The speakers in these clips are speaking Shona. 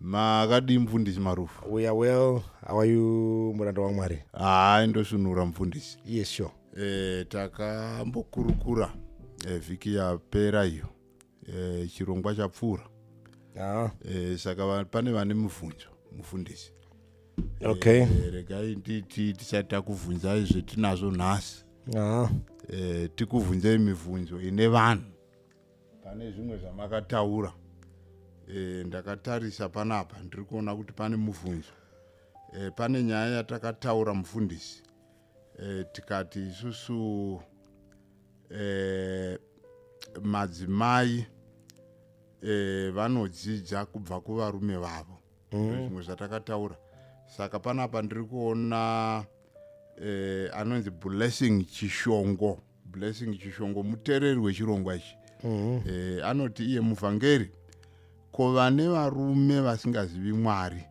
makadii mfundisi marufu we are well how are you muranda wamwari hayi ndosvinura mfundisi yes sure e, takambokurukura e, vhiki yapera iyo e, chirongwa chapfuura ah. e, saka pane vane mubvunzo mufundisi e, okay e, regai nditi tisati takuvhunzai zvetinazvo nhasi ah. e, tikuvhunzei mibvunzo ine vanhu pane zvimwe zvamakataura e, ndakatarisa panapa ndiri kuona kuti pane mubvunzo e, pane nyaya yatakataura mufundisi e, tikati isusu e, madzimai e, vanodzidza kubva kuvarume vavo mm. zvimwe zvatakataura saka panapa ndiri kuona e, anonzi blessing chishongo blessing chishongo mutereri wechirongwa ichi mm -hmm. e, anoti iye muvhangeri ko vane varume vasingazivi mwari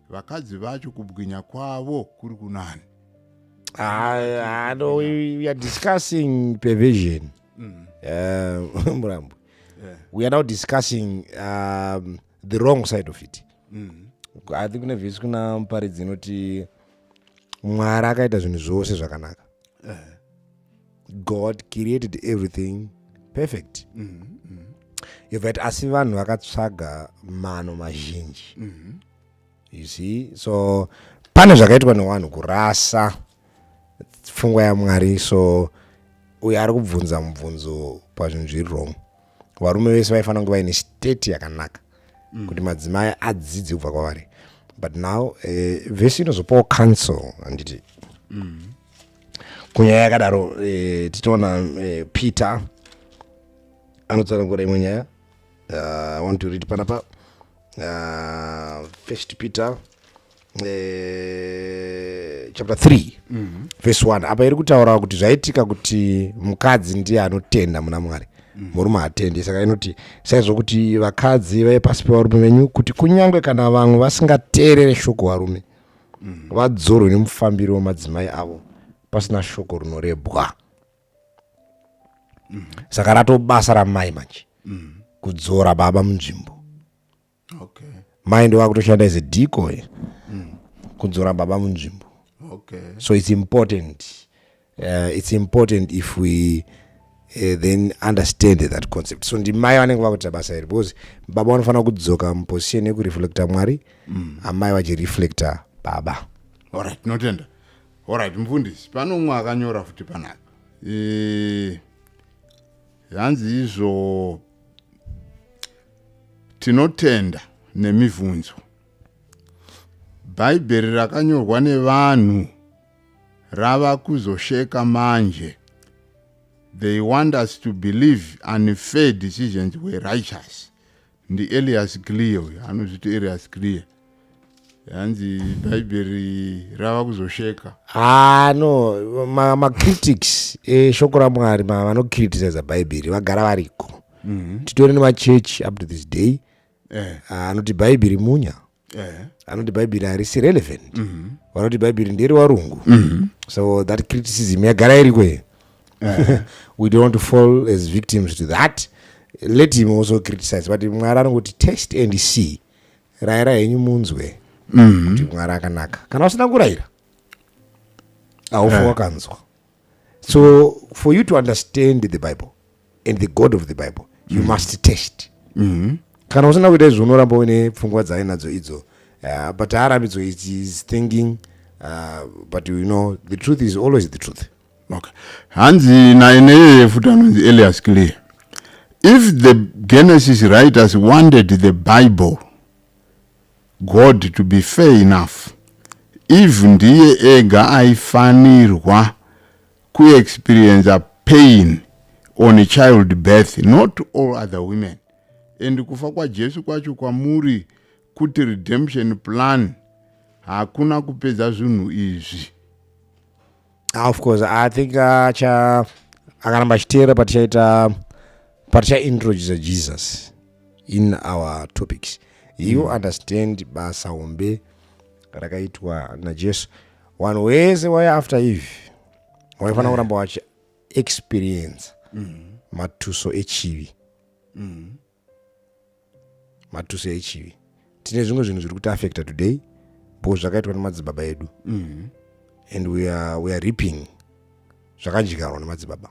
vakadzi vacho kubwinya kwavo kuri kunani ah, ah, no, we, we are discussing perversion mm. uh, murambwe yeah. we are now discussing um, the wrong side of it mm. i think kune vhesi kuna muparidzi inoti mwari akaita zvinhu zvose zvakanaka eh. god created everything perfect mm -hmm. yovati asi vanhu vakatsvaga mano mazhinji mm -hmm. you see so pane zvakaitwa newanhu kurasa pfungwa yamwari so uyo ari kubvunza mubvunzo pazvinhu zviri wrong varume vese vaifanira kunge vaine state yakanaka mm. kuti madzimai adzidze kubva kwavari but now uh, eh, vese inozopawo council handiti mm. kunyaya yakadaro uh, eh, titoona uh, eh, peter anotsanangura imwe nyaya uh, want to read panapa uh, first peter eh, chapter 3 mm -hmm. verse 1 apa iri kutaurawo kuti zvaitika kuti mukadzi ndiye anotenda muna mwari mm. murume hatendi saka inoti saizvo kuti vakadzi vave pasi pevarume venyu kuti kunyange kana vamwe vasingateerere shoko varume mm. vadzorwe nemufambiri wemadzimai avo pasina shoko rinorebwa mm. saka ratobasa ramai manje mm. kudzora baba munzvimbo okay. mind wakutoshanda as a decoy mm. kudzora baba munzvimbo okay. so it's important uh, it's important if we uh, then understand that concept so ndimai vanenge vakuita basa iri because baba vanofanira kudzoka muposition yekureflecta mwari mm. amai vachireflecta baba orit tinotenda orit mfundisi pano umwe akanyora futi panaka e... hanzi izvo tinotenda nemibvunzo bhaibheri rakanyorwa nevanhu rava kuzosheka manje they want us to believe unfair decisions were righteous ndielias clear uyo anozviti elias clear hanzi bhaibheri rava kuzosheka ah no macritics ma eshoko eh, ramwari vanocriticisa bhaibheri vagara variko mm -hmm. titori nemachechi up to this day eh. Ah, anoti eh. ah, bhaibheri munya yeah. anoti bhaibheri harisi relevant mm -hmm. vanoti bhaibheri nderi warungu mm -hmm. so that criticism yagara iriko here yeah. we don't want to fall as victims to that let him also criticize but mwari anongoti test and see raira henyu munzwe mm -hmm. kuti mwari akanaka kana usina kurayira aufa yeah. wakanzwa so for you to understand the bible and the god of the bible you mm. must test mm -hmm. kana usina kuita izvo unoramba uine pfungwa dzainadzo idzo uh, but haarambidzo is thinking uh, but you know the truth is always the truth okay hanzi naye neyeye futi anonzi elias clear if the genesis writers wanted the bible God to be fair enough Eve ndiye ega aifanirwa kuexperiencer pain on child birth not all other women and kufa kwajesu kwacho kwamuri kuti redemption plan hakuna kupedza zvinhu izvi Ah, of course i think acha akaramba achiteera patichaita patichaintroduce jesus in our topics you mm. understand basa hombe rakaitwa najesu vanhu wese waya after eve waifanira kuramba wachi experience mm. matuso echivi mm. matuso echivi tine zvimwe zvinhu zviri kuti affecta today bo zvakaitwa nemadzibaba edu mm. and we are, we are reaping zvakadyikarwa nemadzibaba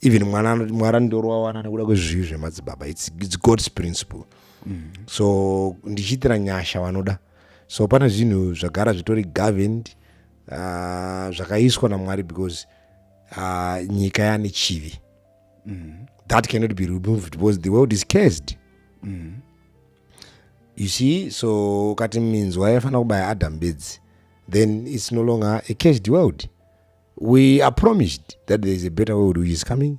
even mwana mwari anondoro wawana nekuda kwezvivi zvemadzibaba its, its god's principle mm. so ndichiitira nyasha vanoda so pane zvinhu zvagara zvitori governed uh, zvakaiswa namwari because uh, nyika yane chivi mm. that cannot be removed because the world is cursed mm. you see so ukati minzwa yaifanira kubaya adam bedzi then it's no longer a cursed world we are promised that there is a better world which is coming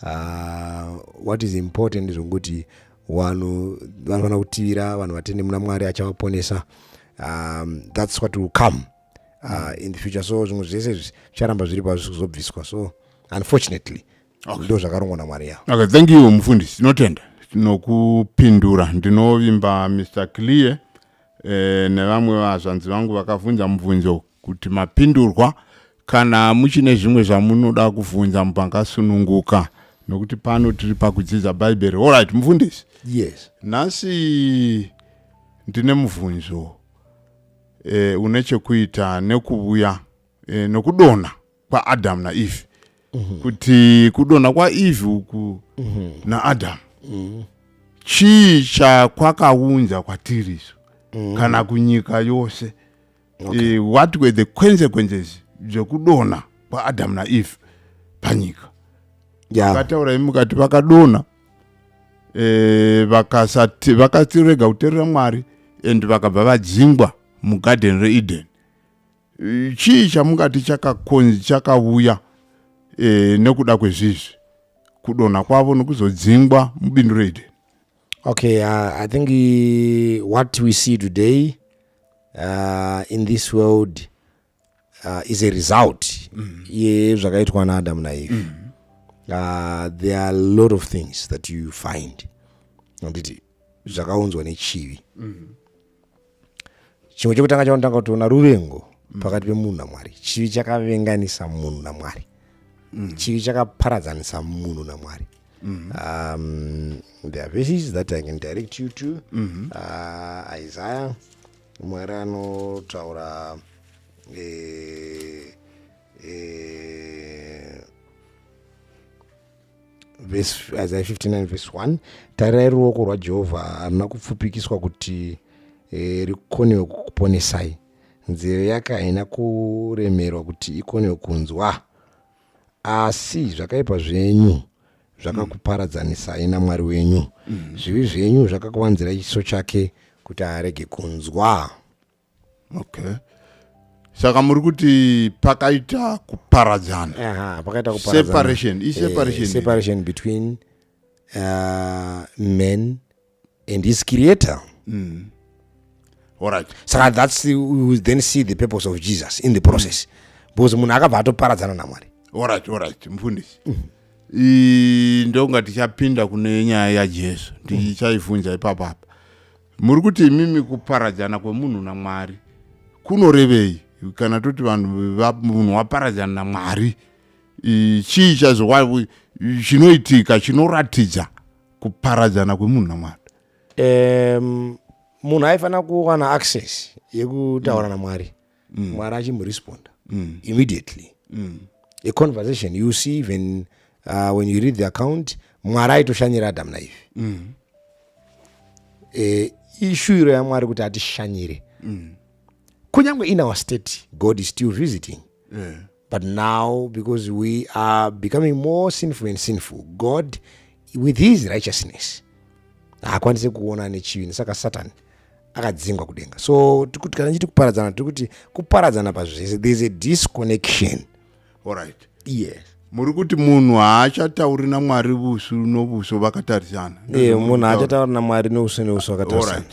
uh, what is important zvokuti vanhu vanofanira kutivira vanhu vatende muna mwari achavaponesa um, that's what will come uh, in the future so zvimwe zvese zvicharamba zviri pazvi kuzobviswa so unfortunately okay. ndo zvakarongwa namwari yavo okay, thank you mufundisi tinotenda tinokupindura ndinovimba mr clear eh, nevamwe vazvanzi vangu vakavhunza mubvunzo kuti mapindurwa kana muchine zvimwe zvamunoda kuvhunza mupangasununguka nokuti pano tiri pakudzidza bhaibheri allright mufundisi yes nhasi ndine mubvunzo e, une chekuita nekuvuya e, eh, nokudona kwaadhamu naevhi mm -hmm. kuti kudona kwaevhi uku mm -hmm. naadhamu mm -hmm. chii chakwakaunza kwatiri isu mm -hmm. kana kunyika yose okay. e, what were the consequences zvekudona kwaadhamu naevhi panyika vakataura yeah. imi mukati vakadona e, vakasati vakatirega kuterera mwari and vakabva vadzingwa mugarden reeden e, chii chamungati chakakonzi chakavuya e, nekuda kwezvizvi kudonha kwavo nokuzodzingwa mubindu reeden okay uh, i think uh, what we see today uh, in this world uh, is a result mm. yezvakaitwa naadamu naeve mm. uh, there are a lot of things that you find anditi zvakaunzwa nechivi mm. chimwe chekutanga chaunotanga kutoona ruvengo mm. pakati pemunhu namwari chivi chakavenganisa munhu namwari mm. chivi chakaparadzanisa munhu namwari Mm -hmm. um, there are verses that I can direct you to mm -hmm. uh, Isaiah mwari anotaura eh, eh, isaya 59 vhesi 1 tarirai ruoko rwajehovha haruna kupfupikiswa kuti eh, rikonewe kukuponesai nzeve yake haina kuremerwa kuti ikonewe kunzwa asi zvakaipa zvenyu zvakakuparadzanisai namwari wenyu mm. zvivi zvenyu zvakakuvanzira chiso chake kuti arege kunzwa okay saka muri kuti pakaita kuparadzana separation iseparation eh, between uh, men and his creator mm. all right saka that's the, we then see the purpose of jesus in the process mm. because munhu akabva atoparadzana namwari all right all right mfundisi mm -hmm ndonga tichapinda kune nyaya yajesu ndichaivhunja mm. ipapo apa muri kuti imimi kuparadzana kwemunhu namwari kunorevei kana toti vanhu munhu waparadzana namwari chii chazvo chinoitika chinoratidza kuparadzana kwemunhu namwari um, munhu aifanira kuwana access yekutaura mm. namwari mm. mwari achimuresponda mm. immediately mm. a conversation you see even uh, when you read the account mwari aitoshanyira adamu naivi mm. e, ishuiro yamwari kuti atishanyire mm. kunyange in our state god is still visiting yeah. But now, because we are becoming more sinful and sinful, God, with his righteousness, haakwanise kuona nechivi saka satan akadzingwa kudenga so tikuti kana chiti kuparadzana tiri kuti kuparadzana pazvese there is a disconnection allright yes muri kuti munhu haachatauri namwari vusu novuso vakatarisana e munhu haachatauri namwari nouso neuso vakatarisana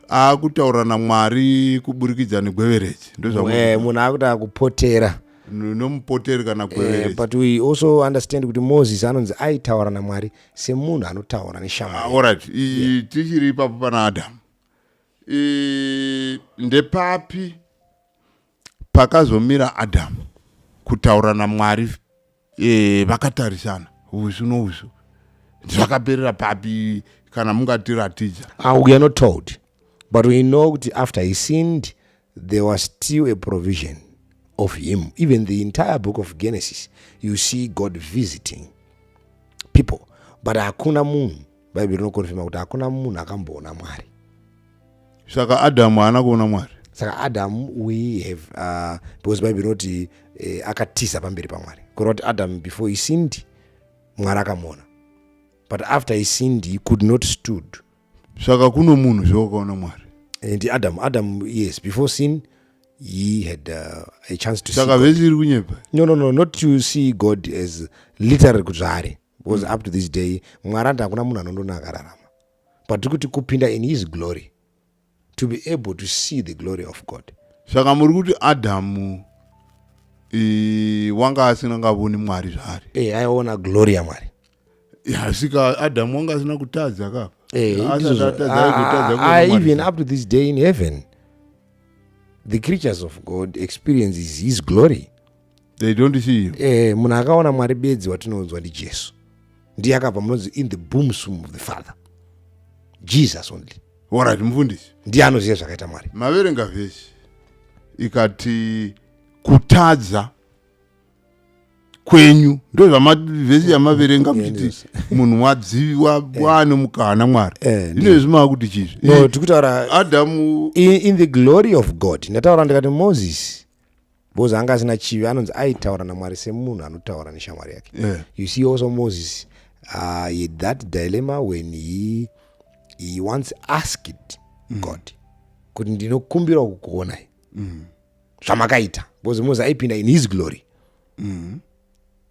akutaura namwari kuburikidza negwevereji ndozvawe munhu akuti akupotera nomupoteri kana gwevereji eh, but we also understand kuti moses anonzi aitaura namwari semunhu anotaura neshamaorit ah, yeah. tichiri ipapo pana adamu ndepapi pakazomira adamu kutaura namwari e, vakatarisana usu nousu zvakaperera papi kana mungatiratidza ah, we are not told but we know kuti after he sinned there was still a provision of him even the entire book of genesis you see god visiting people but hakuna munhu bhaibheri rinokonfirma kuti hakuna munhu akamboona mwari saka adamu haana kuona mwari saka adamu we have uh, because bhaibheri rinoti eh, akatiza pamberi pamwari kureva kuti adamu before he sinned mwari akamuona but after he sinned he could not stood saka kuno munhu zvewakaona mwari and adamu adamu yes before sin he had uh, a chance to saka vese iri kunyepa no no no not to see god as literary kuti zvaari because mm. up to this day mwari ati hakuna munhu anondona akararama but tiri kuti kupinda in his glory to be able to see the glory of god saka muri kuti adhamu wanga asina ngavoni mwari zvaari e eh, aiona glory yamwari asika adhamu wanga asina kutadza kapa eh, even up to this day in heaven the creatures of god experiences his glory they don't see you eh munhu akaona mwari bedzi watinoudzwa ndijesu ndiye akabva munonzi in the boomsum of the father jesus only orit mufundisi ndiye anoziva zvakaita mwari maverenga vhesi ikati kutadza kwenyu ndozvamavhesi yamaverenga muchiti munhu wadziviwa wane eh. mukana mwari eh, ino izvi mava kuti chizvi tikutaura adamu in the glory of god ndataura ndikati moses because anga asina chivi anonzi aitaura namwari semunhu anotaura neshamwari yake yeah. you see also moses uh, he had that dilemma when he, he once asked mm. god kuti ndinokumbirawo kukuonai mm. zvamakaita because moses aipinda in his glory mm.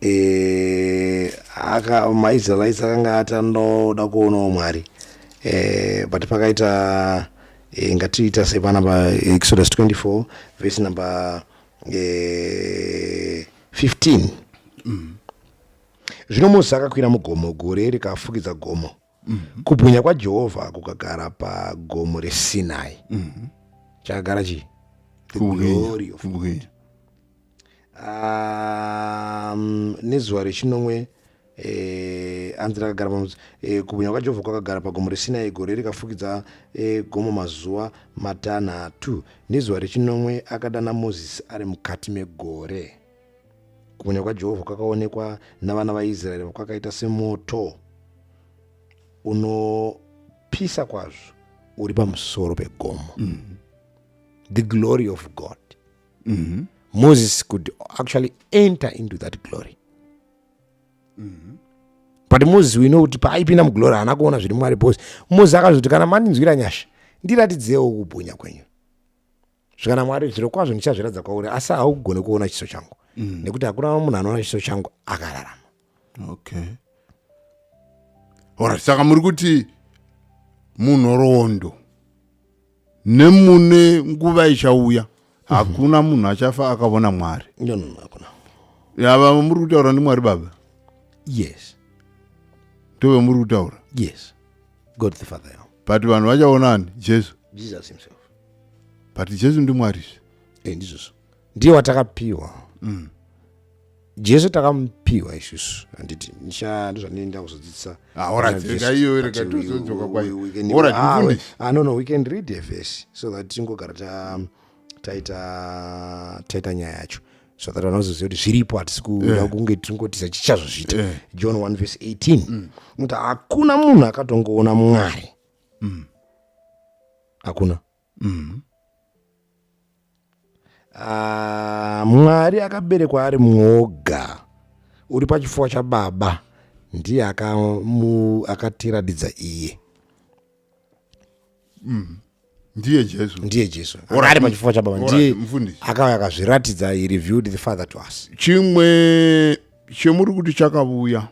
eh, aka maisraelites akanga ati anoda kuonawo mwari eh, but pakaita eh, ngatiita sepana pa exodus 24 vese number eh, 15 mm. zvino mozisi akakwira mugomo gore rikafukidza gomo mm -hmm. kubwinya kwajehovha kukagara pagomo resinai mm -hmm. chakagara chii um, nezuva rechinomwe eh, anzi rakagara pamuzi eh, kubwinya kwajehovha kwakagara pagomo resinai gore rikafukidza eh, gomo mazuva matanhatu nezuva rechinomwe akadana mozisi ari mukati megore kubwinya kwajehovha kwakaonekwa navana vaisraeri kwakaita semoto unopisa kwazvo uri pamusoro pegomo mm -hmm. the glory of god mm -hmm. moses could actually enter into that glory mm -hmm. but moses we know kuti paaipinda muglory haana kuona zviri mwari bcause moses akazoti kana mandinzwira nyasha ndiratidzeiwo kubwinya kwenyu zvikana mwari zviro kwazvo ndichazviratidza kwauri asi haugone kuona chiso changu mm. nekuti hakuna munhu anoona chiso changu akararama okay orit saka muri kuti munhoroondo nemune nguva ichauya mhm. hakuna munhu achafa akavona mwari yava muri kutaura ndimwari baba yes ndove muri kutaura yes god the father but vanhu vachaona ani jesu jesus himself but jesu ndimwari zve eh, ndizvozvo ndiye watakapiwa mm. jesu takamupiwa isusu handiti nishando zvandinoenda kuzodzidzisa anono we can read a verse so that tingogara taita taita nyaya yacho so that vanozoziva kuti zviripo hatisi kuda eh. kunge tiringotiza chichazozviita eh. john 1 vese 18 kuti mm. mm. hakuna munhu akatongoona mwari mm. hakuna mm. uh, mwari akaberekwa ari mwoga uri pachifuwa chababa ndiye akatiratidza iye mm. ndiye jesu ndiye jesu ari pachifuva chababa ndiye akauya akazviratidza he reviewed the father to us chimwe chemuri kuti chakavuya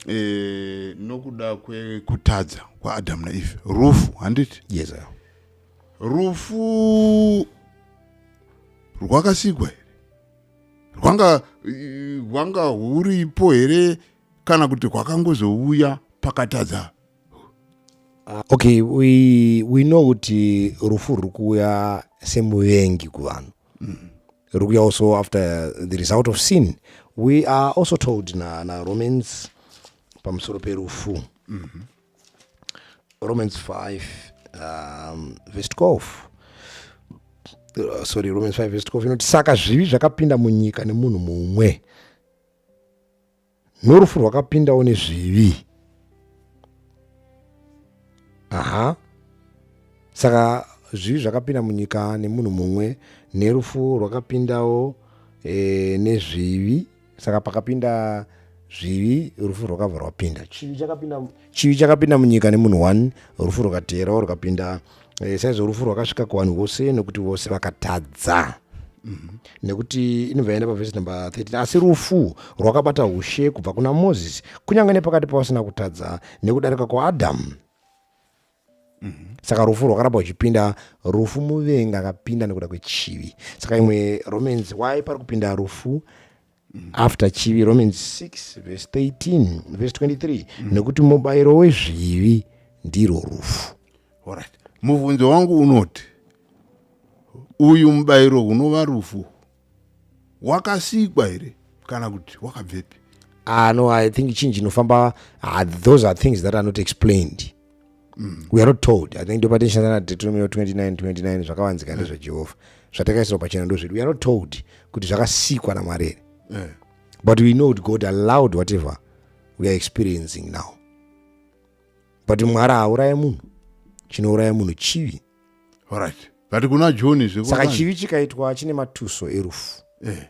eh, nokuda kwekutadza kwaadhamu naeve rufu handiti yes rufu rwakasikwa here rwanga rwanga huripo here kana kuti hwakangozouya pakatadza ah, okay we, we know kuti rufu ruri kuuya semuvengi kuvanhu mm. ruri kuya also after the result of sin we are also told na, na romans pamusoro perufu mm -hmm. romans 5 um, verse 12 uh, sorry romans 5 verse 12 inoti saka zvivi zvakapinda munyika nemunhu mumwe norufu rwakapindawo nezvivi aha saka zvivi zvakapinda munyika nemunhu mumwe nerufu rwakapindawo e, nezvivi saka pakapinda zvivi rufu rwakabva rwapinda chivi chakapinda munyika nemunhu one rufu rwakateerawo rukapinda e, saizvo rufu rwakasvika kuvanhu vose nokuti vose vakatadza mm -hmm. nekuti inobva yaenda pavhesi number 13 asi rufu rwakabata ushe kubva kuna moses kunyange nepakati pavasina kutadza nekudarika kwaadhamu mm -hmm. saka rufu rwakaramba uchipinda rufu muvengi akapinda nekuda kwechivi saka imwe romans why pari kupinda rufu after chivi romans 6 verse 13 verse 23 mm. nekuti mubayiro wezvivi ndirwo rufu right. mubvunzo wangu unoti uyu mubayiro unova rufu wakasikwa here kana kuti wakabvepi ah no i think chinji inofamba ah, those are things that are not explained mm. we are not told i think ndopatinshanda na deuteronomio 29 29 zvakavanzika mm. nezvejehovha zvatakaisirwa pachena ndo zvedu we are not told kuti zvakasikwa namwari here mm. but we know kuti god allowed whatever we are experiencing now but mwari hauraye munhu chinouraya munhu chivi orit but kuna joni zvsaka chivi chikaitwa chine matuso erufu eh.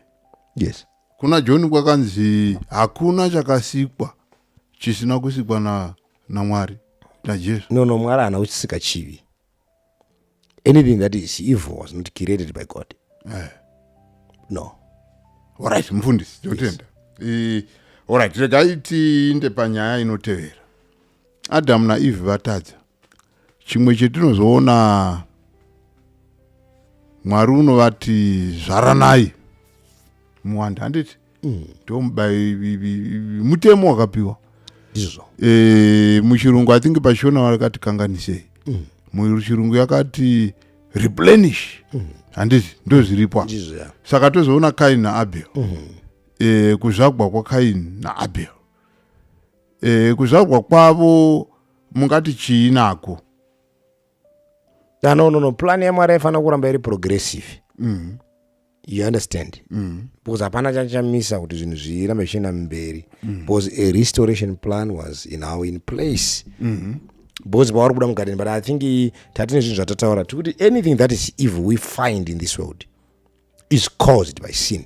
yes kuna joni kwakanzi hakuna chakasikwa chisina kusikwa na namwari najesu no no mwari haana kuchisika chivi anything that is evil was not created by god eh. no orit mufundisi tinotenda yes. orit regai tiinde panyaya inotevera adamu naeve vatadza chimwe chetinozoona mwari unovati zvaranai muwanda handiti mm. ndomubai mutemo wakapiwa izvo e, eh, muchirungu i think pashona vakati kanganisei mm. muchirungu yakati replenish mm. handiti mm. ndozviripwa yeah. saka tozoona kain naabel mm. e, eh, kuzvagwa kwakain naabel e, eh, kuzvagwa kwavo mungati chii nako ah, no no no plan yamwari aifanira kuramba iri progressive mm. you understand mm. because hapana chachamisa kuti zvinhu zvirambe zvichienda mberi mm. because a restoration plan was in our in place mm -hmm because pavari kuda mugadeni but i think tati nezvinhu zvatataura tikuti anything that is evil we find in this world is caused by sin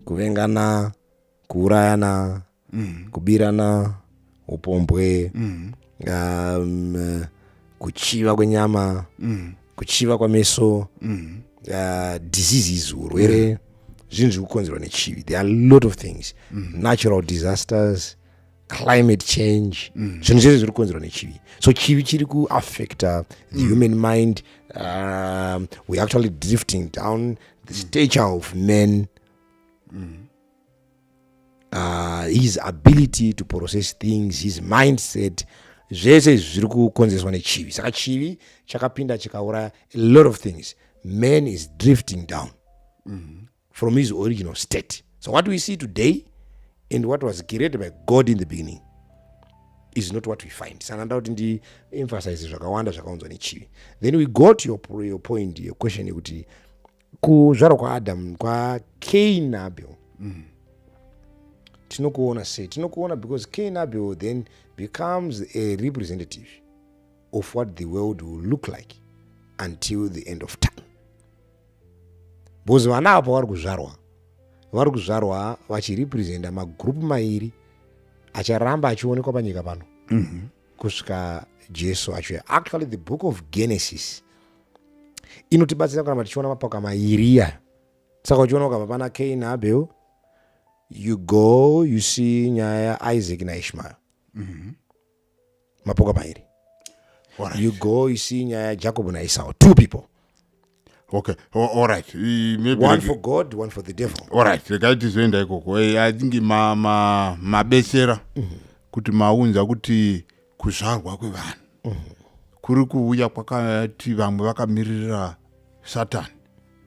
kuvengana kuurayana mm. kubirana upombwe mm. um, kuchiva kwenyama mm. kuchiva kwameso mm. uh, diseases urwere yeah. zvinhu zviri kukonzerwa nechivi there are lot of things mm. natural disasters climate change mm. zvinhu mm. zvese zviri kukonzerwa nechivi so chivi chiri kuaffecta the mm. human mind um, we're actually drifting down the stature of men mm. uh, his ability to process things his mindset zvese izvi zviri kukonzereswa nechivi saka chivi chakapinda chikauraya a lot of things man is drifting down mm -hmm. from his original state so what we see today and what was created by god in the beginning is not what we find sana nda kuti ndiemphasize zvakawanda zvakaunzwa nechivi then we go to your, your point your question yekuti kuzvarwa kwaadam kwacain abel mm. tinokuona sei tinokuona because cain abel then becomes a representative of what the world will look like until the end of time because vana ava pavari kuzvarwa vari kuzvarwa vachirepresenta magroup mairi acharamba achionekwa panyika pano mm -hmm. kusvika jesu achiuya actually the book of genesis inotibatsira kuramba tichiona mapoka mairi iyayo saka uchiona ukabva pana kain abel you go you see nyaya yaisaac naishmael mm -hmm. mapoka mairi right. you go you see nyaya yajacob naisau two people okay all right maybe one for god one for the devil all right regai tizoenda ikoko i think mabesera ma, ma mm -hmm. kuti maunza kuti kuzvarwa kwevanhu mm -hmm. kuri kuuya kwakati vamwe vakamirira satani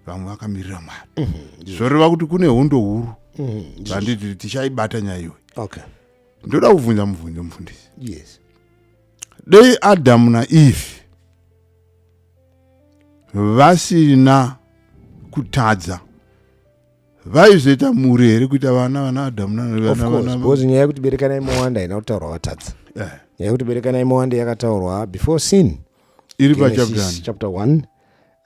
vamwe vakamirira mwari mm -hmm. zvoreva kuti kune hondo huru mm -hmm. zanditi tichaibata nyaya iwe okay. ndoda kuvhunza mubvunzo mufundisi yes. dei adhamu naeve vasina kutadza vaizoita mhuri here kuita vana vana adamu nanabecause nyaya yekuti berekanai mowanda haina kutaurwa vatadza eh. nyaya yekuti berekanai mowanda yakataurwa before sin iri pachapter 1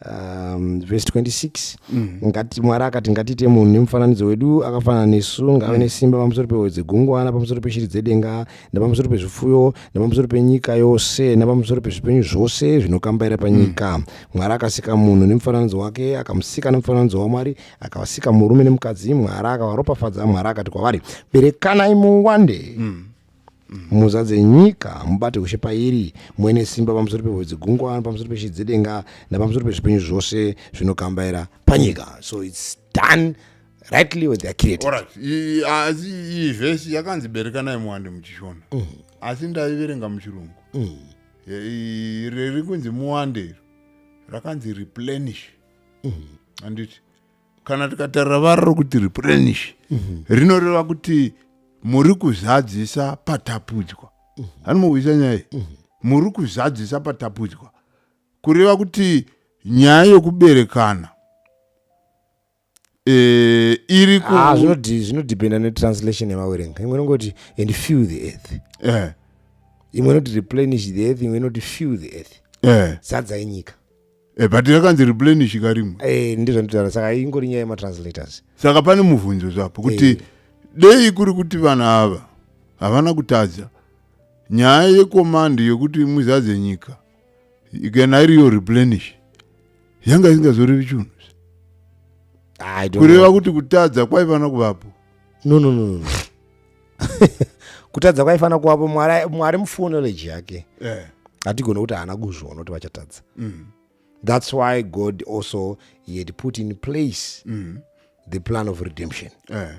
um, verse 26 mm. ngati mwari akati ngatiite munhu nemufananidzo wedu akafanana nesu ngave mm. nesimba pamusoro pehoyo dzegungwana pamusoro peshiri dzedenga nepamusoro pezvipfuyo nepamusoro penyika yose nepamusoro pezvipenyu zvose zvinokambaira panyika mm. mwari akasika munhu nemufananidzo wake akamusika nemufananidzo wamwari akavasika murume nemukadzi mwari akavaropafadza mwari akati kwavari berekanai muwande mm muzadze nyika mubate ushe pairi muene simba pamusoro pehove dzegungwa pamusoro peshiri dzedenga napamusoro pezvipenyu zvose zvinokambaira panyika so it's done rightly or theyare created asi iyi vhesi yakanzi berekanai muwande muchishona mm. asi ndaiverenga muchirungu mm. riri kunzi muwande iro rakanzi replenish mm. anditi kana tikatarira vara rokuti replenish mm-hmm. rinoreva kuti muri kuzadzisa patapudzwa mm-hmm. hanimokuisa nyaya mm-hmm. muri kuzadzisa patapudzwa kureva kuti nyaya yokuberekana eh, iri ku Ah, zvinodi- zvinodependa netranslation yemawerenga imwe inongoti and fill the earth eh, imwe inoti replenish the earth imwe inoti fill the earth eh, sadza yenyika eh, but yakanzi replenish karimwe Eh, ndizvo nditaura saka ingori nyaya yematranslators saka pane mubvunzo zvapo kuti Eh. dei kuri kuti vana ava havana kutadza nyaya yekomandi yokuti muzadze nyika kana iriyo replenish yanga isingazorevi chunhu kureva kuti kutadza kwaifanira kuvapo no no no kutadza kwaifanira kuvapo mwari mufonology yake eh. hatigone kuti haana kuzviona kuti vachatadza mm. that's why god also he had put in place mm. the plan of redemption eh.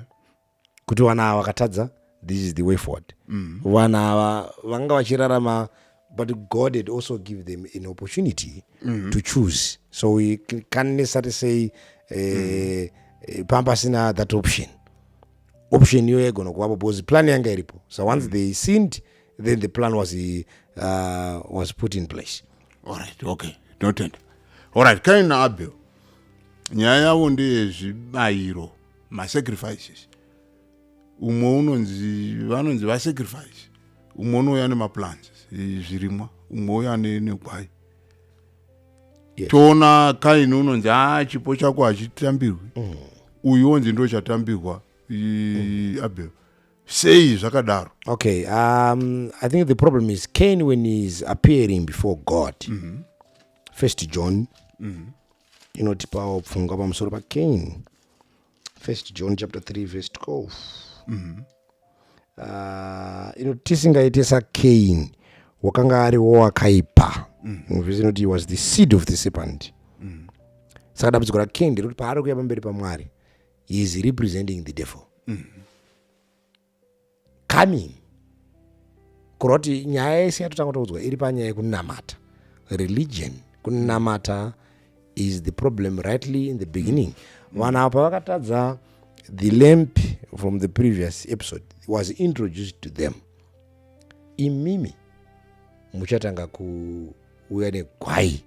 kuti vana ava vakatadza this is the way forward mm. vana ava vanga vachirarama but god had also give them an opportunity mm. to choose so we can necessarily say uh, mm. Eh, pampasina that option option iyoyo yaigona kuvapo because plan yanga iripo so once mm. they sinned then the plan was, uh, was put in place alright okay totenda alright kaina abel nyaya yavo ndeyezvibayiro masacrifices umwe unonzi vanonzi vasacrifice umwe unouya nemaplans zvirimwa umwe uya negwai yes. toona kaini unonzi a ah, chipo chako hachitambirwi mm. uyu onzi ndo chatambirwa mm. abel sei zvakadaro okay um, i think the problem is cain when heis appearing before god mm -hmm. first john mm -hmm. inotipawo pfungwa pamusoro pacain first john chapter 3 verse 12 mm -hmm. Ah, ino tisingaite sacain wakanga ariwo wakaipa muvhesi mm. inoti was the seed of the serpent mm. saka dambudziko racain nderekuti paari kuya pamberi pamwari he is representing the devil mm. coming kureva kuti nyaya yese yatotanga taudzwa iri panyaya yekunamata religion kunamata is the problem rightly in the beginning vanhu ava pavakatadza the lamp from the previous episode was introduced to them imimi muchatanga kuuya negwai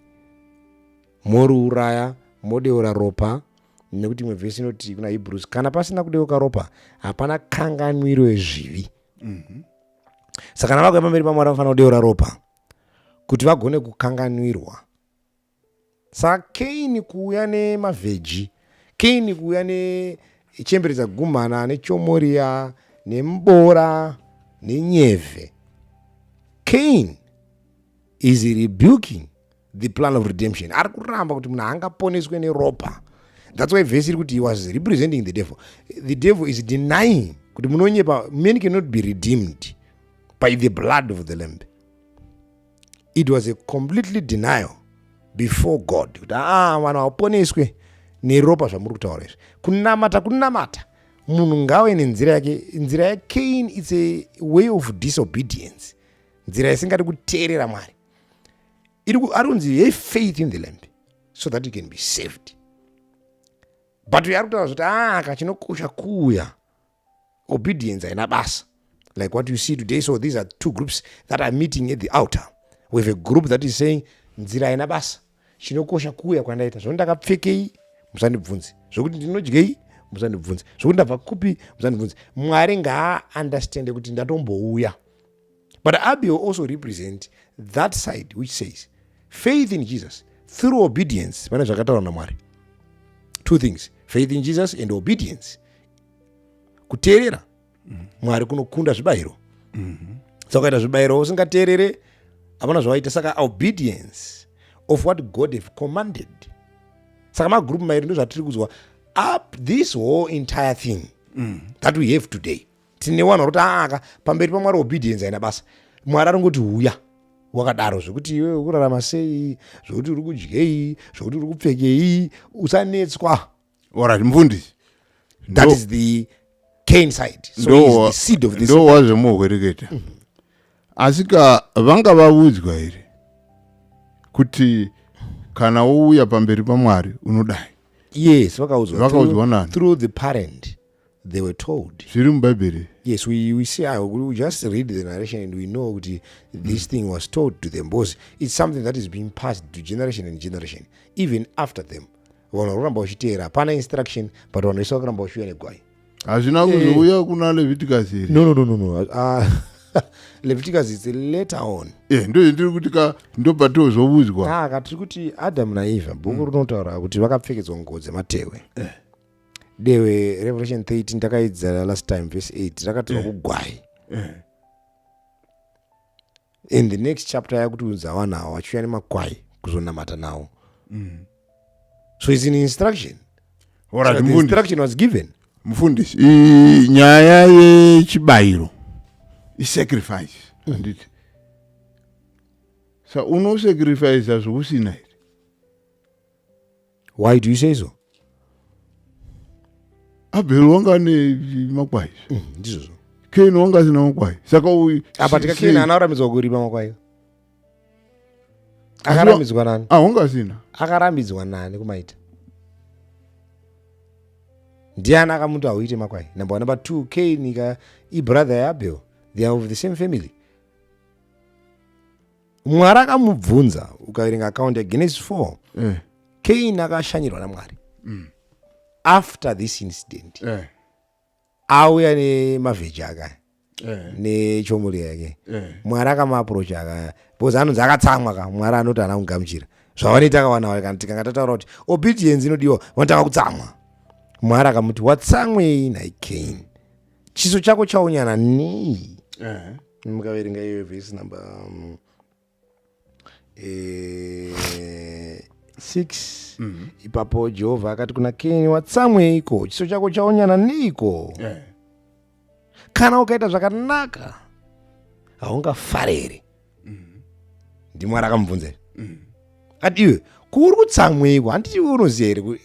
moriuraya modeura ropa nekuti imwe vhesi inoti kuna hebrews kana pasina kudeuka ropa hapana kanganwiro yezvivi mhm. saka kana vakuya pamberi pamwari vanofanira kudeura ropa kuti vagone kukanganwirwa saka kaini kuuya nemavheji kaini kuuya nechembere dzagumhana nechomoriya nemboora nenyevhe kaini is rebuking the plan of redemption ari kuramba kuti munhu angaponeswe neropa that's why vhesi iri kuti he was representing the devil the devil is denying kuti munonyepa man cannot be redeemed by the blood of the lamb it was a completely denial before god kuti aa ah, vanhu hauponeswe neropa zvamuri kutaura izvi kunamata kunamata munhu ngawe nenzira yake nzira yacain its a way of disobedience nzira isingadi kuteerera mwari ari kunzi have faith in the lamp so that you can be saved but uyo ari kutaura zvoti aka ah, chinokosha kuuya obedience haina basa like what you see today so these are two groups that are meeting at the outer we have a group that is saying nzira haina basa chinokosha kuuya kwandaita zvoni ndakapfekei musandibvunzi zvokuti ndinodyei musandibvunzi zvokuti ndabva kupi musandibvunzi mwari ngaaundastande kuti ndatombouya But Abiel also represents that side which says faith in Jesus through obedience pane zvakataurwa namwari two things faith in jesus and obedience kuteerera mwari kunokunda zvibayiro saka ukaita zvibayiro usingateerere hapana zvawaita saka obedience of what god have commanded saka magroup mairi ndozvatiri kuzwa up this whole entire thing that we have today tine wanhu vari kuti aaka pamberi pamwari obedience haina basa mwari aringoti huya wakadaro zvekuti iwe ukurarama sei zvekuti uri kudyei zvekuti uri kupfekei usanetswa orat mfundisi that is the cane side so seed of this ndo wazvemuhwereketa mhm. asi ka vanga vavudzwa here kuti kana wouya pamberi pamwari unodai yes vakaudzwa vakaudzwa nani through the parent they were told zviri mubhaibheri yes we, we see ah, we just read the narration and we know kuti this mm. thing was told to them because it's something that is being passed to generation and generation even after them vanhu vakuramba vachiteera hapana instruction but vanhu vese vakuramba vachiuya negwai hazvina eh. kuzouya kuna leviticus here no no no no, no. Uh, leviticus is later on eh, ndo zvendiri kuti ka ndobva tozovuzwa ah, ka tiri kuti adamu naeva bhuku mm. rinotaura kuti vakapfekedzwa nguo dzematehwe eh. dewe revelation 13 takaidzira last time verse 8 rakatirwa yeah. kugwai yeah. in the next chapter yakutiudza vanhu avo vachiuya nemakwai kuzonamata nawo mm. so its an instruction right, so the instruction was given mufundisi nyaya yechibayiro isacrifice mm. anditi mm. sa unosacrifica zvokusina here why do you say so abel wanga ane makwai mm, ndizvozvo ken wanga asina makwai saka apa tika ken ana arambidzwa kurima makwai akarambidzwa nani ah, wanga asina akarambidzwa nani kumaita ndiani akamuti hauite makwai number one number two ken ka ibrother yaabel they are of the same family mwari akamubvunza ukaverenga akaunti yagenesis 4 eh. kain akashanyirwa namwari mm. after this incident eh. auya nemavheji akaya eh. nechomuri yake eh. mwari akamaaprocha akaya bcause anonzi akatsamwa ka mwari anoti ana kungamuchira zvavanoita kawanawa kana tikanga tataura kuti obedience inodiwa vanotanga kutsamwa mwari akamuti watsamwei nhai kain chiso chako chaonyana nei eh. mukaverenga iyoyo vhesi number um, eh, six mm-hmm. ipapo jehovha akati kuna keni watsamweiko chiso chako chaonyana neiko eh. kana ukaita zvakanaka haungafare here mm-hmm. ndimwari akamubvunza here mm-hmm. ati iwe kuuri kutsamweiko handiti iwe unoziva here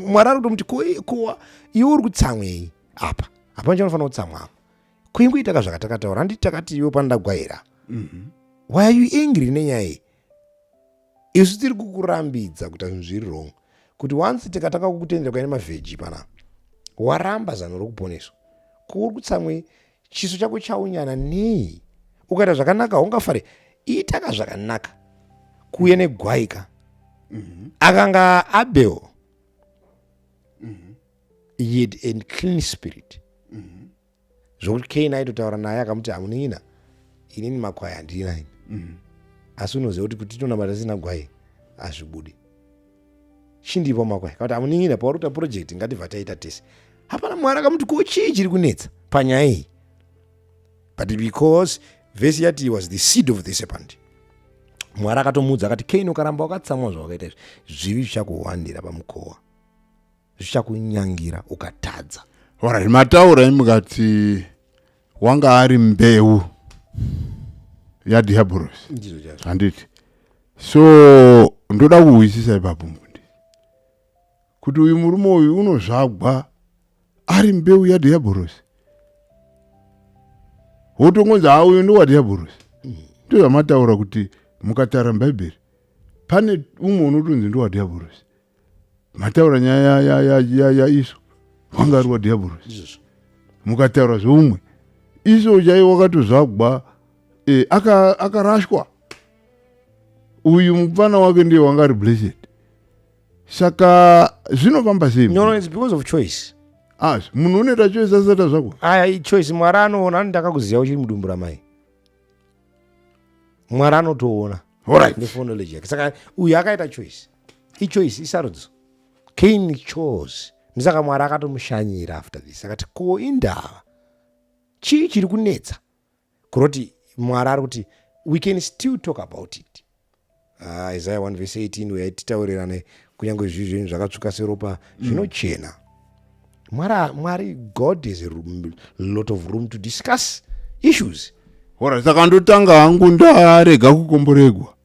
mwari ari kutomuti iwe uri kutsamwei apa hapana chanofanira kutsamwa kuingoitaka zvakatakataura handiti takati iwe pandagwaira mhm. why are you angry nenyaya iyi isu tiri kukurambidza kuita zvinhu zviri wrong kuti once tikatanga kukutendera kuya nemavheji pana waramba zano rokuponeswa kuri kutsamwe chiso chako chaunyana nei ukaita zvakanaka haungafare itaka zvakanaka kuuya negwaika mhm. akanga abel he had a clean spirit mm-hmm. zvokuti kain aitotaura naye akamuti hamuningina inini makwai handina ini mm-hmm. asi unoziva kuti kuti tonamata sina gwai hazvibudi chindipo makwai kauti hamuningina pauri kuta project ngativha taita tese hapana mwari akamuti ko chii chiri kunetsa panyaya iyi but because vhesi yati was the seed of the serpent mwari akatomuudza akati kain ukaramba wakatsamwa zvawakaita izvi zvivi zvichakuhwandira pamukowa zvichakunyangira ukatadza ora zvimataura imukati wanga ari mbeu yadhiabhorosi ndizvo chazvo handiti so ndoda kuhwisisa ipapo mbundi kuti uyu murume uyu unozvagwa ari mbeu yadhiabhorosi wotongonzi ha uyu ndowadhiabhorosi ndo zvamataura kuti mukatara bhaibheri pane umwe unotonzi ndowadhiabhorosi mataura nyaya ya, ya, ya, ya isu wanga ari wadhiabhorosi izvozvo mukataura zveumwe iso chaiye wakatozvagwa eh, aka- akarashwa uyu mupfana wake ndiye wanga ari blessed saka zvinofamba sei no no it's because of choice as munhu unoita choice asata zvako aya ichoice mwari anoona ani ndakakuziva uchiri mudumbu ramai mwari anotoona alright ndefone knowledge yake saka uyu akaita choice ichoice isarudzo kain chose ndisaka mwari akatomushanyira after this akati ko indava chii chiri kunetsa kuroti mwari ari kuti we can still talk about it ah, isaya 1 vese 18 uya titaurirane kunyange zvi zvinhu zvakatsvuka seropa mm. zvinochena mwari mwari god is a lot of room to discuss issues hora saka ndotanga hangu ndarega kukomboregwa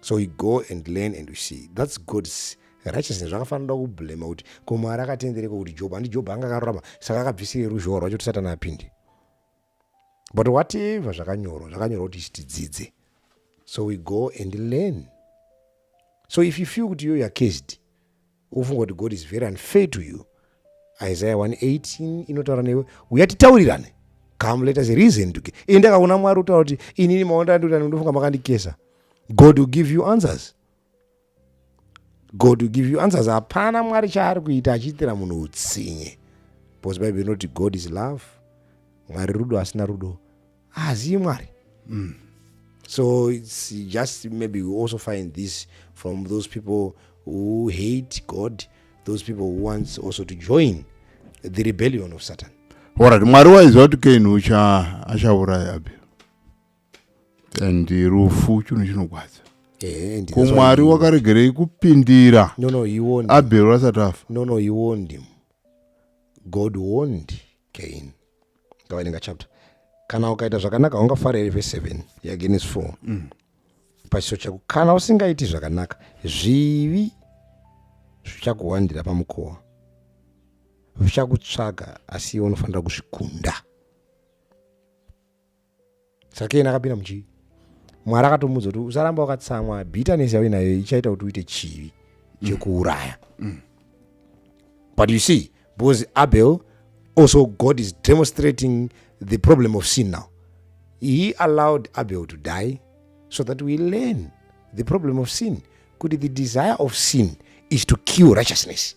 so you go and learn and you see that's god's righteousness zvakafanira kublema kuti ko mwari akatendereka kuti job handi job anga akarurama saka akabvisire ruzhowa rwacho kuti satani apinde but whatever zvakanyorwa zvakanyorwa kuti tidzidze so we go and learn so if you feel kuti yoyo acased ufunga kuti god is very unfair to you isaiah 118 inotaura newe uya titaurirane come let us reason to ini ndakaona mwari utaura kuti inini maonda andiurirani ndofunga makandikesa god will give you answers god will give you answers hapana mwari chaari kuita achiitira munhu utsinye because bible inoti god is love mwari rudo asina rudo haazivi mwari mm. so its just maybe we also find this from those people who hate god those people who wants also to join the rebellion of satan orit mwari waiziva kuti keni ucha achauraya abel and rufu chinhu chinogwadza eh, kumwari wakaregerei kupindira abel asati afa no no he warned him god warned gain ngavainenga chapter kana ukaita zvakanaka ungafara here vese 7 yagenes 4 mm. pachiso chako kana usingaiti zvakanaka zvivi zvichakuwandira pamukova zvichakutsvaga asi iwe unofanira kuzvikunda saka iyena akapinda muchii mwari akatomuudza kuti usaramba wakatsamwa bitterness yauye nayo ichaita kuti uite chivi mm. chekuuraya mm. but you see because abel also god is demonstrating the problem of sin now he allowed abel to die so that we learn the problem of sin kuti the desire of sin is to kill righteousness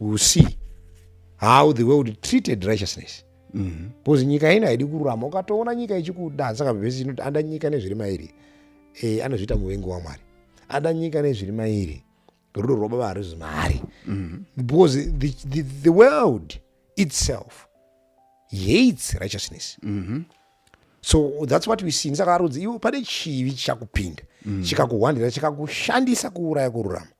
will see how the world treated righteousness mm -hmm. because nyika ino haidi kururama ukatoona nyika ichikuda saka vhesi inoti ada nyika nezviri mairi e, anozviita muvengi wamwari ada nyika nezviri mairi rudo rwababa harizi mari mm -hmm. because the, the, the world itself hates righteousness mm -hmm. so that's what we see saka arudzi iwo pane chivi chakupinda mm -hmm. chikakuhwandira chikakushandisa kuuraya kururama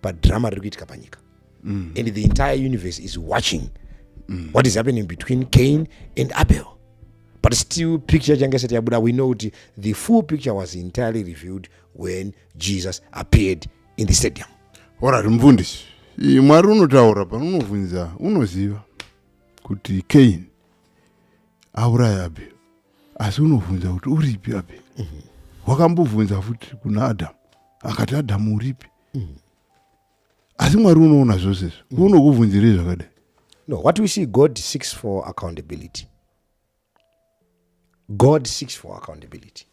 padhirama riri kuitika panyika mm. and the entire universe is watching mm. what is happening between cain and abel but still picture change isati yabuda we know kuti the full picture was entirely revealed when jesus appeared in the stadium orari mufundisi mwari unotaura pano unovhunza unoziva kuti cain auraya abel asi unovhunza kuti uripi api mhm. wakambovhunza futi kuna adamu akati adamu uripi mhm. asi mwari unoona zvose izvo mhm. unokuvhunzirei zvakadai no what we see god seeks for accountability god seeks for accountability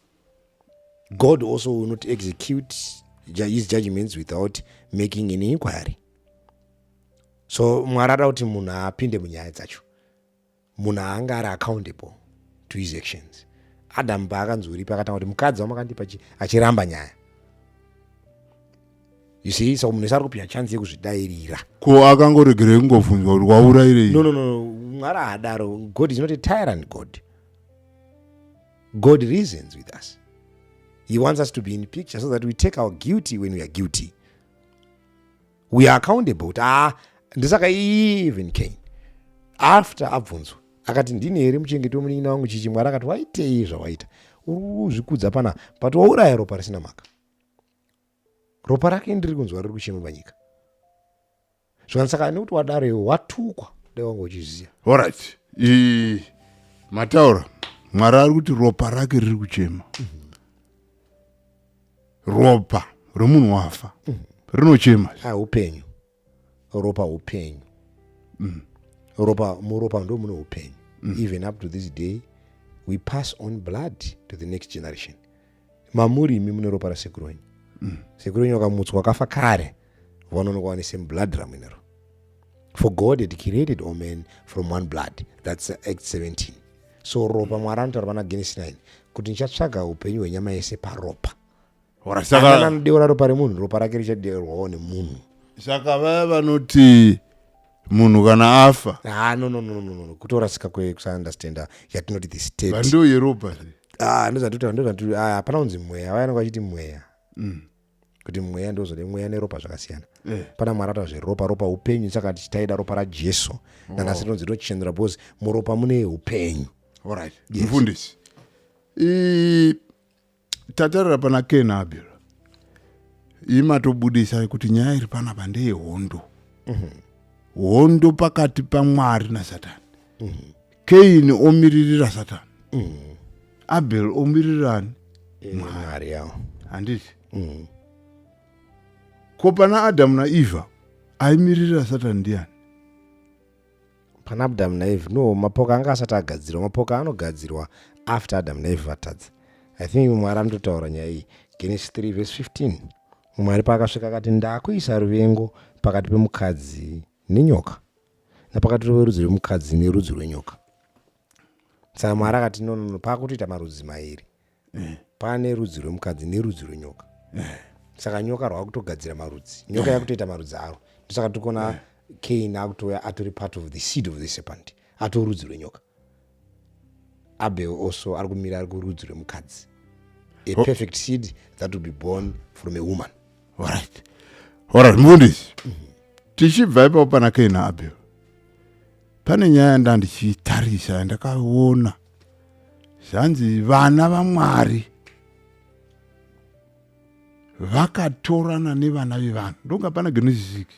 god also will not execute his judgments without making an inquiry so mwari ada kuti munhu apinde munyaya dzacho munhu aanga ari accountable to his actions adam paakanzoripa akatanga kuti mukadzi wamakandipa achiramba nyaya you see saka munhu wese ari kupihwa chansi yekuzvidairira ko akangoregerei kungobvunzwa kuti waurairei no no no mwari haadaro god is not a tyrant god god reasons with us he wants us to be in picture so that we take our guilty when we are guilty we are accountable kuti aa ndisaka even kane after abvunzwa akati ndini here muchengeti wemunin'ina wangu chichi mwari akati waitei zvawaita uri kuzvikudza pana but wauraya ropa risina mhaka ropa rake ndiri kunzwa riri kuchema panyika zvakana saka nekuti wadaro iwe watukwa dai wanga uchiziva orit mataura mwari ari kuti ropa rake riri kuchema mm -hmm. ropa remunhu wafa mm. rinochema ah, upenyu ropa upenyu mm. ropa muropa ndo mune upenyu mm. even up to this day we pass on blood to the next generation mamuri imi mune ropa rasekuru wenyu mm. sekuru wenyu wakamutswa wakafa kare vanonokwanisa mublood ramuinero for god had created all men from one blood thats act 17 so ropa mwari anotaura pana genes 9 kuti ndichatsvaga upenyu hwenyama yese paropa kana anodeura ropa remunhu ropa rake richadeurwawo nemunhu saka vaya vanoti munhu kana afa ah, no, no, no, no, no. kutorasika kwekusaundestanda yatinoti the state vandoyeropa ah, ndozvatoti hapana kunzi mweya vaya anenge vachiti mweya mm. kuti mweya ndozode mweya neropa zvakasiyana eh. pana mwari ata zveropa ropa upenyu saka tichitaida ropa rajesu oh. nanhasi rinonzi rinochenura because muropa mune upenyu orit mfundisi tatarira pana ken abel imatobudisa kuti nyaya iri panapa ndeyehondo mhm. hondo pakati pamwari nasatani mhm. kaini omiririra satani mm. abel omiririrani eh, mwari yavo handiti mm. ko pana adamu naeva aimiririra satani ndiani pana adamu naeva no mapoka anga asati agadzirwa mapoka anogadzirwa after adamu naeva vatadza i think mwari anototaura nyaya iyi genesis 3 vese 15 mwari paakasvika akati ndakuisa ruvengo pakati pemukadzi nenyoka napakati rudzi rwemukadzi nerudzi rwenyoka saka mwari akati nonono paakutoita marudzi mairi eh. pane rudzi rwemukadzi nerudzi rwenyoka eh. saka nyoka rwakutogadzira marudzi nyoka yakutoita marudzi aro ndosaka tikuona kain akutouya atori part of the seed of the serpent atorudzi rwenyoka abel also ari kumira ari kurudzi rwemukadzi a oh. perfect seed that will be born from a woman orit orit mufundisi tichibva ipapo pana kaina abel pane nyaya yandandichitarisa yandakaona zvanzi vana vamwari vakatorana nevana vevanhu ndonga pana genesisiki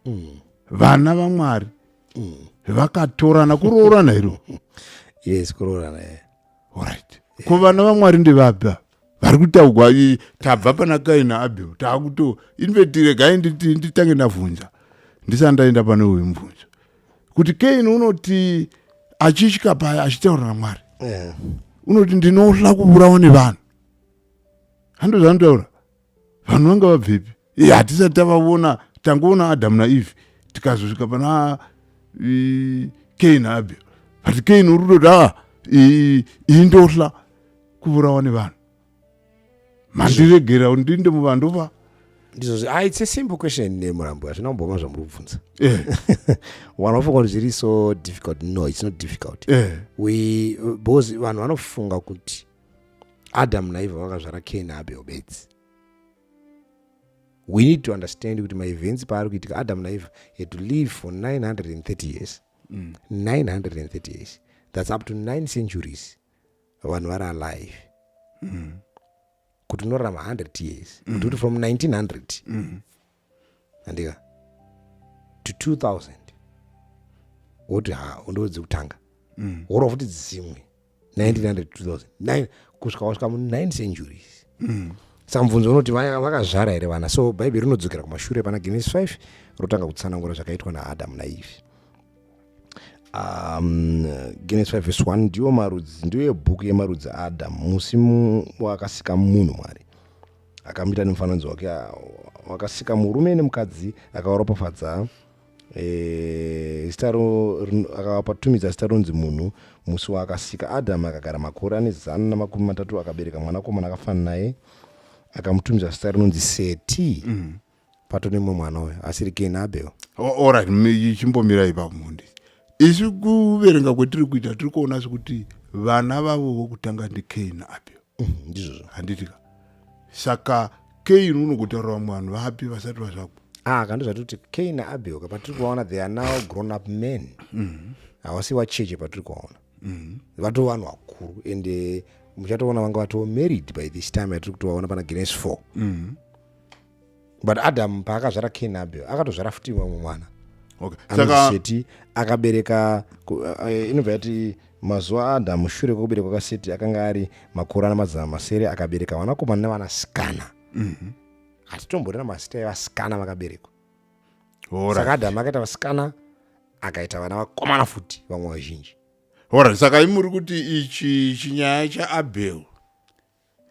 mm. vana vamwari mm. vakatorana kuroorana iro yes kuroorana yeah. right yeah. ko vana vamwari ndevabva vari kutaugwa tabva pana kaina abel taakuto invetire gai nditange ndavhunza ndisani ndaenda pane uyu mubvunzo kuti kain unoti achitya paya achitaura namwari yeah. unoti ndinohla kuvurawa nevanhu hando zvanotaura vanhu vanga vabvepi e hatisati tavavona tangoona adamu naeve tikazosvika pana kain abel but kain uri kutoti a iyi ndohla kuvurawa nevanhu mandiregera ndinde muvandova ndizvo ah, it's a simple question nemurambo hazvina kumboma zvamuri kubvunza eh. vanhu vafunga kuti zviri so difficult no it's not difficult eh. we because vanhu vanofunga kuti adamu naivha vakazvara keni abel bedzi we need to understand kuti maevents paari kuitika adamu naivha had to live for 930 years mm. 930 years that's up to 9 centuries vanhu vari alive mm. kuti unorarama 100 years mm. kuti from 1900 mm. andika to 2000 woti ha ndo dzekutanga mm. worova futi dzimwe 1900 2000 kusvika wasvika mu 9 centuries mm. samubvunzo unoti vakazvara here vana so bhaibheri rinodzokera kumashure pana genesis 5 rotanga kutsanangura zvakaitwa naadamu naivi um, genesis 5 vs 1 ndiyo marudzi ndiyo yebhuku yemarudzi aadamu musi wakasika munhu mwari akamuita nemufananidzo wake ah, wakasika murume nemukadzi akawaropafadza eh, zita akawapatumidza zita ronzi munhu musi waakasika adhamu akagara makore ane zana namakumi matatu akabereka mwanakomana akafanana naye akamutumidza zita rinonzi seti mm. pato nemwe mwana uyo asiri kini abel orit chimbomira ipa mundi isu kuverenga kwetiri kuita tiri kuona sekuti vana vavo vokutanga ndikini abel mhm, ndizvozvo handitika saka kini unogotaura vamwe vanhu vapi vasati vazvako ah, kando zvatoti kini abel kapatiri kuvaona they are now grown up men mhm. havasi mm -hmm. vacheche patiri kuvaona mm -hmm. vato vanhu vakuru ende muchatoona vanga vatoo married by this time yatiri kutovaona pana guinness four mm -hmm but adamu paakazvara kain abel akatozvara futi vamwe mwana seti akabereka eh, inobva yati mazuva adamu shure kwekuberekwa kaseti akanga ari makore ana mazana masere akabereka vanakomana nevanasikana mhm. hatitomborera mazita evasikana vakaberekwa saka adamu akaita vasikana akaita vana vakomana futi vamwe vazhinji horai saka imuri kuti ichi chinyaya chaabel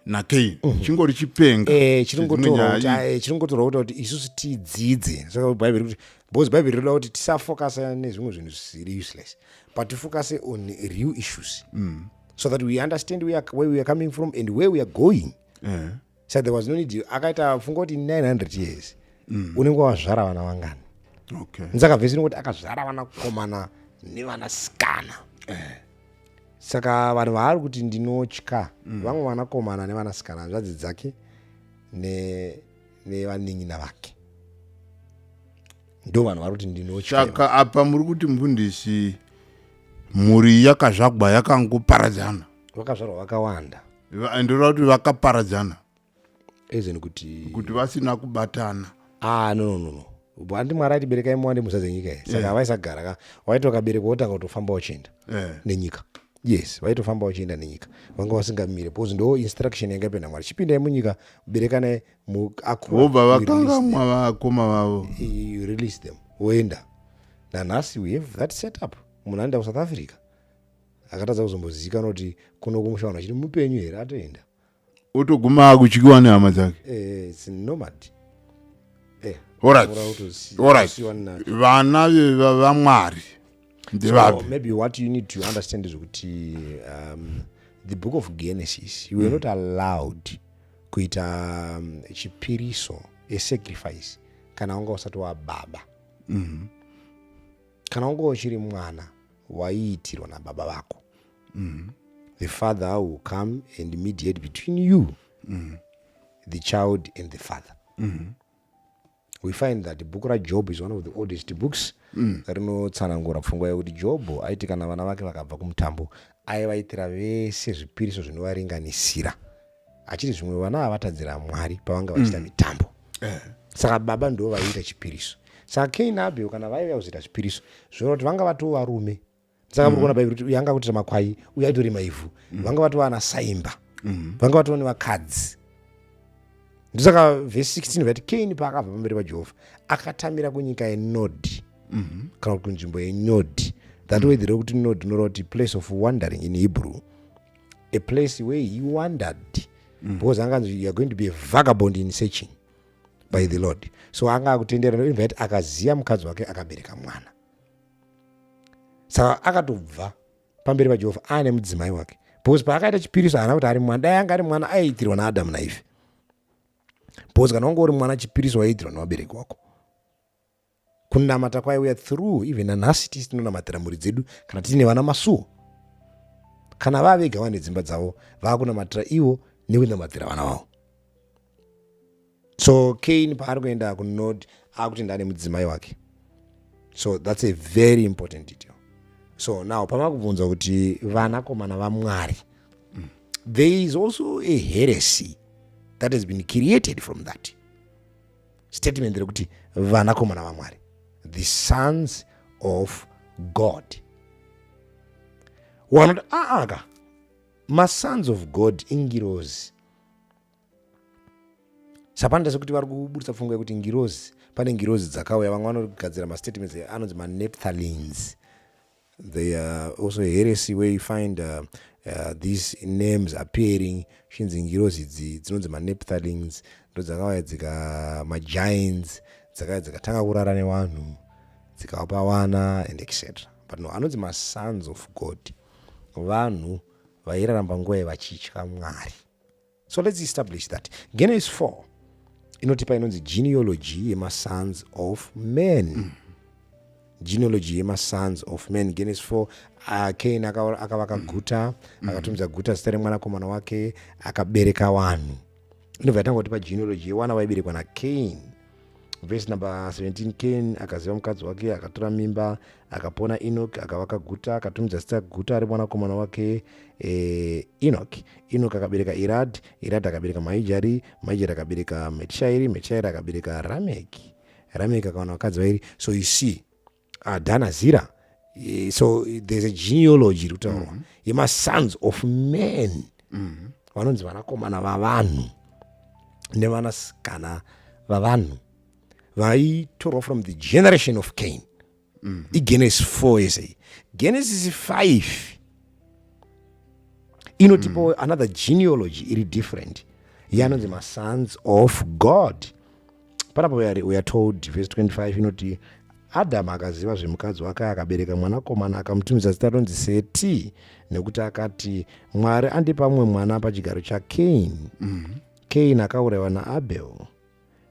nagain mhm. chingori chipenga eh, chiringotorwa kuta kuti isusu tidzidze saka bhaibheri kuti because bhaibheri rinoda kuti tisafokasa nezvimwe zvinhu zvisiri useless but tifokase on real issues mm. so that we understand where, where we are coming from and where we are going eh. so there was no need akaita funga kuti 900 years mm. unenge wazvara vana vangani okay. nzakavhesi inoti akazvara vana komana nevana sikana eh. saka vanhu vaari kuti ndinotya mm. vamwe vanakomana nevanasikana hanzvadzi dzake nevanin'ina ne vake ndo vanhu vari kuti ndinotyasaka apa muri kuti mfundisi mhuri yakazvagwa yakangoparadzana vakazvarwa vakawanda ndinoda kuti vakaparadzana ezeni kuti kuti vasina kubatana ah no no no no handi mwari atiberekai muwande muzadzi yenyika iyi saka havaisagara ka waiti wakaberekwa wotanga kutofamba uchienda Eh. nenyika yes vaitofamba uchienda nenyika vanga vasingamire because ndo instruction yanga ipenda mwari chipindai munyika berekanai mu- akura, vobva you release vakangamwa vakoma vavo them. you release them woenda nanhasi we have that set up munhu anoenda kusouth africa akatadza kuzombozivikanwa kuti kuno kumusha vanhu vachiti mupenyu here atoenda otoguma akutyiwa nehama dzake eh, it's nomad eh, Alright. mura utosi- Alright. usiwa na- vana ve- va- vamwari So ndevapi maybe what you need to understand is kuti um, the book of genesis you were not allowed kuita um, chipiriso a sacrifice kana wanga usati wababa kana wanga uchiri mwana waiitirwa nababa vako mm. the father will come and mediate between you mm. the child and the father mm. we find that bhuku rajob is one of the oldest books mm. rinotsanangura pfungwa yekuti jobho aiti kana vana vake vakabva kumutambo aivaitira vese zvipiriso zvinovaringanisira achiti zvimwe vana avatadzira mwari pavanga vachita mm. mitambo mm. eh. saka baba ndo vaiita chipiriso saka kain abel kana vaiva kuzoita zvipiriso zvinoti vanga vatova rume saka muri mm. kuona bhaibheri kuti uyu anga kutira makwai uyu aitorima ivhu mm. vanga vatova ana saimba mm. vanga vatova nevakadzi ndosaka vhesi 16 vati kaini paakabva pamberi pajehovha akatamira kunyika yenodhi mm-hmm. kana kuti kunzvimbo yenyodhi that way there kuti nodhi inoreva kuti place of wandering in hebrew a place where he wandered because anga anzi youare going to be a vagabond in searching by the lord so anga akutenderana akazia mukadzi wake akabereka mwana saka akatobva pamberi pajehovha aane mudzimai wake because paakaita chipiriso haana kuti ari mwana dai anga ari mwana aiitirwa naadamu naife because kana wanga uri mwana chipiriso waiitirwa nevabereki wako kunamata kwaiuya through even nanhasi tisi tinonamatira mhuri dzedu kana tiine vana masuo kana vavega vane dzimba dzavo vaakunamatira ivo nekunamatira vana vavo so kain paari kuenda kunod akuti ndane mudzimai wake so thats a very important detail so now pamakubvunza kuti vanakomana vamwari mm. there is also a heresy that has been created from that statement rekuti vanakomana vamwari the sons of god wanoti aaka ah, ah, masons of god ingirozi sapanda sekuti vari kuburitsa pfungwa yekuti ngirozi pane ngirozi dzakauya vamwe vanogadzira mastatements anonzi manepthalines they are also heresy where you find uh, uh, these names appearing zvinzi ngirozi idzi dzinonzi manepthalines ndo dzakauya dzika magiants dzakauya dzikatanga kurara nevanhu dzikavapa vana and etc but no anonzi masons of god vanhu vairaramba nguva yevachitya mwari so let's establish that genesis 4 inotipa inonzi genealogy yemasons of men mm. genealogy yemasons of men genesis 4 uh, kain akavaka mm. guta mm. akatumidza guta zita remwanakomana wake akabereka vanhu inobva yatangotipa genealogy yewana vaiberekwa nakain vhesi number 17 kain akaziva mukadzi wake akatora mimba akapona enoki akavaka guta akatumidza zita guta ari mwanakomana wake eh, enoki enoki akabereka irad irad akabereka maijari maijari akabereka metishairi metishairi akabereka rameki rameki akawana vakadzi vairi so you see adana zira eh, so there's a genealogy iri kutaurwa mm-hmm. yemasons of men mm-hmm. vanonzi vanakomana vavanhu nevanasikana vavanhu vaitorwa from the generation of cain mm-hmm. igenesis 4 yese genesis 5 inotipawo mm. another genealogy iri different yanonzi masons of god panapa we are told verse 25 inoti adhamu akaziva zvemukadzi wake akabereka mwanakomana akamutumidza zita ronzi seti nekuti akati mwari andipa mumwe mwana pachigaro chakain mm. kain akaurayiwa naabel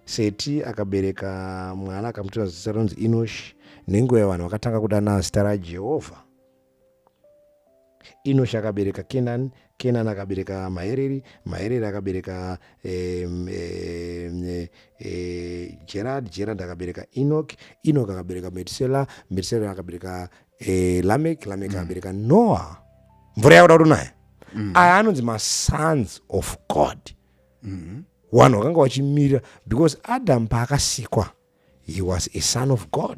seti akabereka mwana akamutumidza zita ronzi inoshi nenguva yavanhu vakatanga kudana zita rajehovha inoshi akabereka kenani kenani akabereka mahereri mahereri akabereka eh, eh, eh, gerard gerard akabereka enok enok akabereka metusela metusela akabereka eh, lamek lamek mm. akabereka mm. noah mvura yakuda kutonaya mm. aya anonzi masons of god mm. wanhu wakanga wachimirira because adam paakasikwa he was a son of god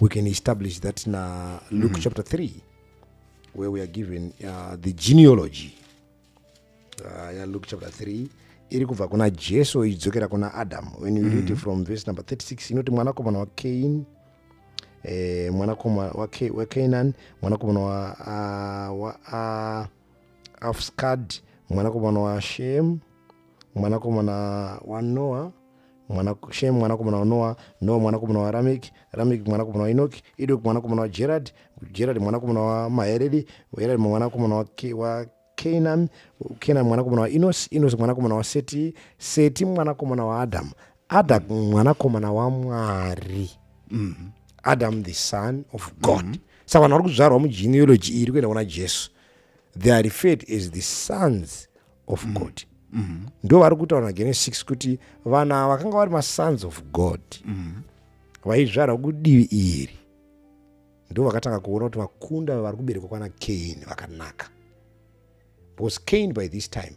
we can establish that in uh, luke mm. chapter 3 where we are given uh, the genealogy uh, yeah, luke chapter 3 iri kubva kuna jesu ichidzokera kuna adam when you mm. read mm-hmm. from verse number 36 inoti mwanakomana wacain eh, mwanakomana wacanaan mwanakomana wa, uh, wa uh, afskad mwanakomana washem mwanakomana wanoa mwana Shem mwanakomana waNoa, Noa mwanakomana waRameki, Rameki mwanakomana waInoki, Idoki mwanakomana waJeradi, Jeradi mwanakomana waMaheredi, Heredi mwanakomana waKenani, Kenani mwanakomana waInosi, Inosi mwanakomana waSeti, Seti mwanakomana waAdhamu, Adhamu mwanakomana waMwari. mm -hmm. Adam the son of God. Mm -hmm. Saka vanhu vari kuzvarwa mugenealogy iri kuenda kuna Jesu. They are referred as the sons of mm. god mm -hmm. ndo vari kutaura nagenesis 6 kuti vana vakanga vari masons of god mm -hmm. vaizvarwa kudivi iri ndo vakatanga kuona kuti vakunda vari kuberekwa kwana kain vakanaka because kain by this time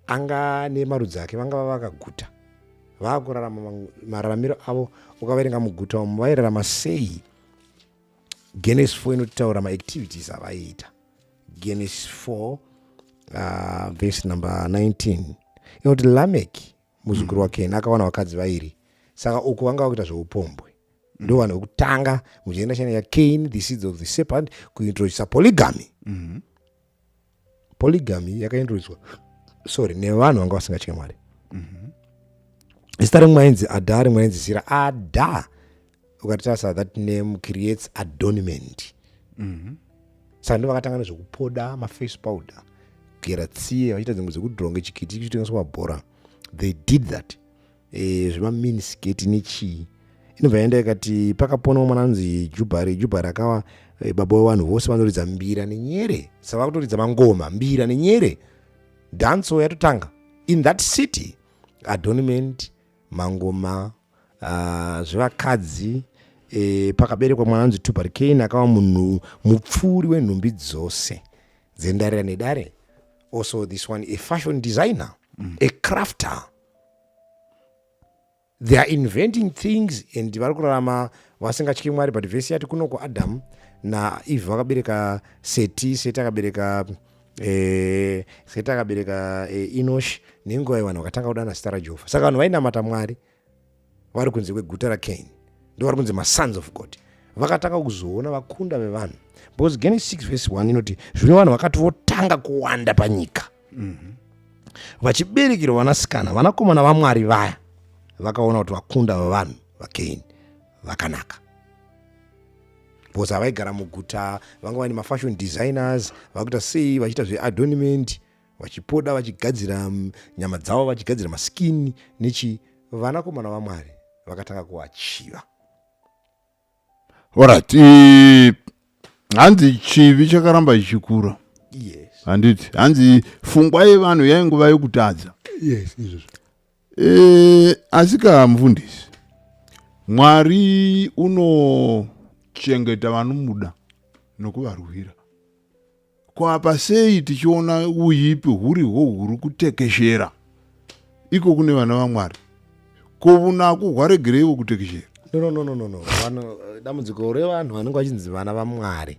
anga nemarudzi ake vanga vava vakaguta vaakurarama mararamiro avo ukavaerenga muguta umu vairarama sei genesis 4 inotaura maactivities avaiita Genesis 4 uh, verse number 19 inoti lameki muzukuru wakeni akawana vakadzi vairi saka uku vanga vakuita zveupombwe ndo vanhu vekutanga muchienda chena yacain the seeds of the serpent kuintroducisa polygamy mm-hmm. polygamy yakaintroducwa sorry nevanhu vanga vasingatye mwari mm-hmm. zita rimwe ainzi adha rimwe ainzi zira adha ukatarisa that name creates adornment mm -hmm. saka ndo vakatanga nezvekupoda maface powder kugera tsiye vachiita dzimwe dzekudronge chikiti chitengeswa mabhora they did that e, eh, zvemaminisgeti nechii inobva yaenda ikati pakaponawo mwana anonzi jubhari jubhari akawa e, baba wevanhu vose vanoridza mbira nenyere saka vakutoridza mangoma mbira nenyere danso yatotanga in that city adornment mangoma uh, zvevakadzi e, pakaberekwa mwana anzi tubal kane akava munhu mupfuuri wenhumbi dzose dzendarira nedare also this one a fashion designer mm. a crafter they are inventing things and vari kurarama vasingatyi mwari but vese yati kuno kuadam naeve vakabereka seti seti akabereka Eh, seti akabereka eh, inosh nenguva yevanhu vakatanga kudana zita rajehovha saka vanhu vainamata mwari vari kunze kweguta rakain ndovari kunze masons of god vakatanga kuzoona vakunda vevanhu because genes 6 vese 1 inoti zvino vanhu vakati votanga kuwanda panyika mhm. vachiberekerwa vanasikana vanakomana vamwari vaya vakaona kuti vakunda vevanhu vakain vakanaka bcause havaigara muguta vanga vane mafashion designers vakuita sei vachiita zveadornment vachipoda vachigadzira mm, nyama dzavo vachigadzira maskini nechi vanakomana vamwari vakatanga kuvachiva orit hanzi chivi chakaramba chichikura yes handiti hanzi fungwa yevanhu yainguva yokutadza yes izvozvo E, asika mfundisi mwari unochengeta vanomuda nokuvarwira kwapa sei tichiona uyipi huriho huri kutekeshera iko kune vana vamwari ko vunaku hwaregereivo kutekeshera no, no, no, no, no. Vano, dambudziko revanhu vanenge vachinzi vana vamwari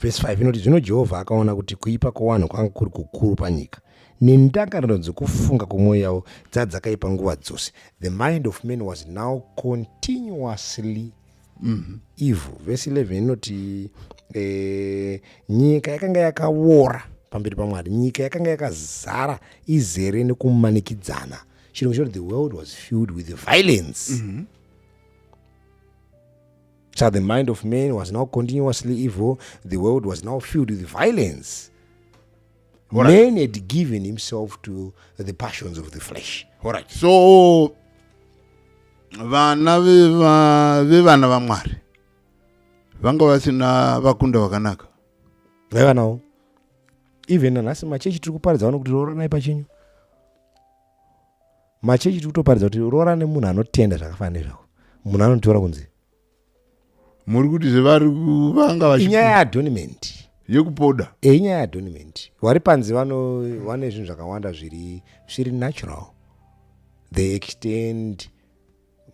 Vhesi 5 inoti, Zvino Jehovha akaona kuti kuipa kwowanhu kwanga kuri kukuru panyika, nendangariro dzokufunga kwomwoyo yavo dzadzakaipa nguva dzose. The mind of man was now continuously mm-hmm. evil. Vhesi 11 inoti, eh, Nyika yakanga yakawora pamberi pamwari nyika yakanga yakazara izere nekumanikidzana chirungu choti the world was filled with violence mm -hmm. So the mind of man was now continuously evil. The world was now filled with violence. All right. Man had given himself to the passions of the flesh. All right. So vana vevana vamwari vanga vasina vakunda vakanaka vaiva nawo even nanhasi machechi tiri kuparidza vanokuti rooranai pachenyu machechi tiri kutoparidza kuti roora nemunhu anotenda zvakafanana nezvako munhu anotora kunzi muri kuti zvevari kuvanga vachinyaya yeadoniment yekupoda e eh, inyaya yeadoniment vari panzi vane zvinhu zvakawanda zviri zviri natural they extend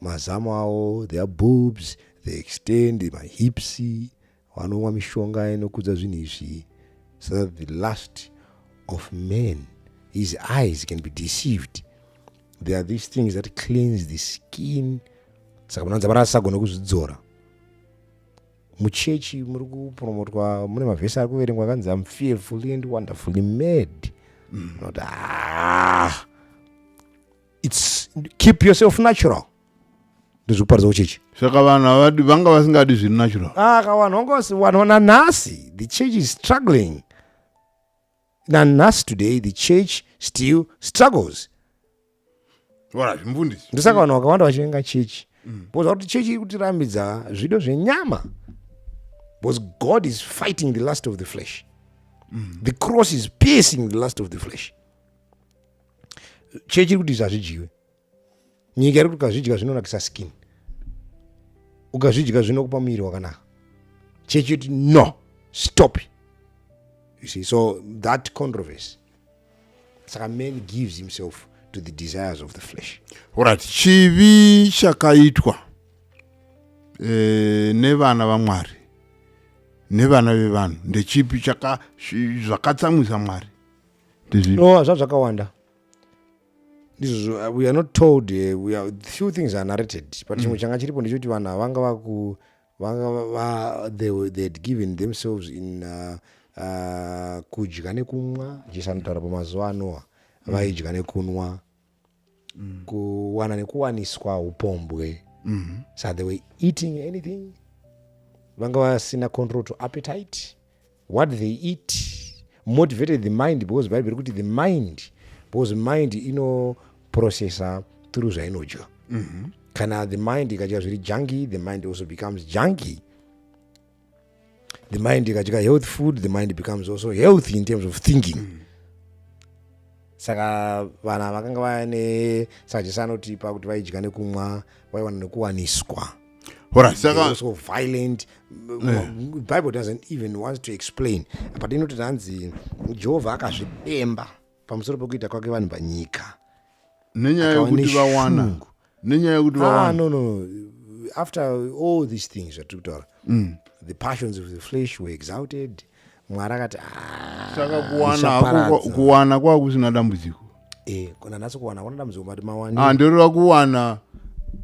mazamu avo their boobs they extend mahips Vanonwa mishonga inokudza zvinhu izvi so that the last of men his eyes can be deceived there are these things that cleans the skin saka munowanza mari asisagona kuzvidzora muchechi muri kupromotwa mune mavhesi ari kuverengwa akanzi am fearfully and wonderfully made mm. not, ah, it's keep yourself natural ndozvikuparidza kuchechi saka vanhu avadi vanga vasingadi zviri natural aka ah, vanhu vanga vanhu nanhasi the church is struggling nanhasi today the church still struggles wala zvimfundisi ndosaka vanhu vakawanda vachivenga chechi mm. bcause vakuti chechi iri kutirambidza zvido zvenyama bcause god is fighting the last of the flesh mm. the cross is piercing the last of the flesh chechi iri kuti izvi hazvidyiwe nyika iri kuti ukazvidya zvinonakisa skin ukazvidya zvinokupa muviri wakanaka chechi yoti no stop you see so that controversy saka man gives himself to the desires of the flesh orit chivi chakaitwa eh, nevana vamwari nevana vevanhu ndechipi zvakatsamwisa mwari no hazva zvakawanda ndizvozvo uh, we are not told uh, we are, few things are narrated but chimwe mm. changa chiripo ndechekuti vanhu avanga vaku vanga they, they had given themselves in uh, uh, kudya nekumwa jesu anotaura pamazuva anoa mm. vaidya nekunwa mm. kuwana nekuwaniswa upombwe mm. so they were eating anything vanga vasina control to appetite what they eat motivated the mind because bible kuti the mind because mind inoprocessa through zvainodya mm -hmm. kana the mind ikadya zviri junky the mind also becomes junky the mind ikadya health food the mind becomes also healthy in terms of thinking mm -hmm saka vanhu ava vakanga vane saka jesu anotipa kuti vaidya nekumwa vaiwana nekuwaniswa Alright, They saka were so violent bible doesn't even want to explain apa tinoti tanzi jehovha akazvidemba pamusoro pekuita kwake vanhu panyika nenyaya akawa yekuti neshungu. vawana nenyaya yekuti ah, vawana no, no, no. after all these things zvatiri kutaura the passions of the flesh were exalted mwari akati "Ah, saka kuwana ndichaparadza." hako kuwana kwava kusina dambudziko Eh, kuna nhasi kuwana kuna dambudziko mati mawani Ah, ndoreva kuwana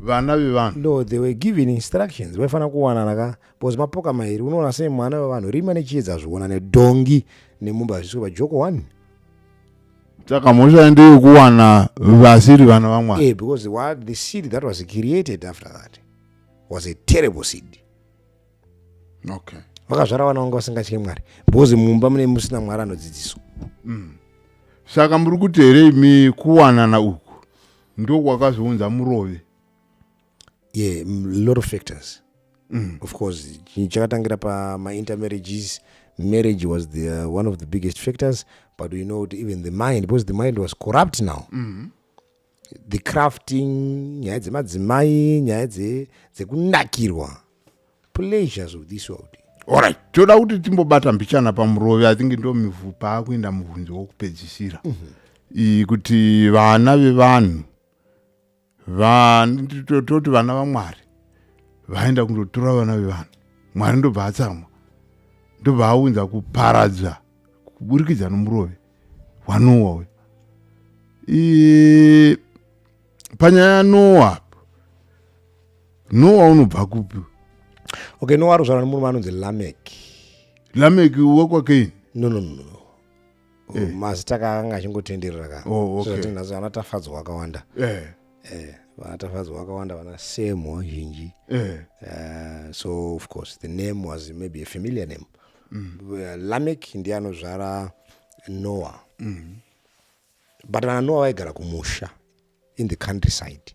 vana vevanhu no they were given instructions vaifanira kuwanana ka bcause mapoka mairi unoona sei mwana wevanhu rima nechiedza hazviona nedhongi nemumba hazvisiko pajoko one saka mhosva ndeyekuwana vasiri vana vamwari yeah, because what the seed that was created after that was a terrible seed okay. vakazvara vana vanga vasingatye mwari because mumba mune musina mwari anodzidziswa mm. saka muri kuti here imi kuwanana uku ndokwakazounza murove ye yeah, lot of factors mm. of course chakatangira pamaintermarriages marriage was the, uh, one of the biggest factors but we know even the mind because the mind was corrupt now mm -hmm. the crafting nyaya dzemadzimai nyaya dzekunakirwa pleasures of this world orit toda kuti timbobata mbichana pamurovi i think ndo mivhu paakuenda muvhunzo wokupedzisira mm -hmm kuti vana vevanhu toti vana vamwari vaenda kundotora vana vevanhu mwari ndobva atsamwa ndobva aunza kuparadza kuburikidza nomurove hwanowa uyu e, panyaya yanowa apo nowa unobva kupi okay nowa arozvara nemurume anonzi lamek lamek wekwakeini no no no eh. oh, mazita kaakanga achingotenderera ka oh, okay. sotinhazo anatafadzwa akawanda eh. Eh, vanatafadzwa vakawanda vana same wazhinji eh. uh, so of course the name was maybe a familiar name mm. lamek ndiye anozvara noah mm. but vana noah vaigara kumusha in the country side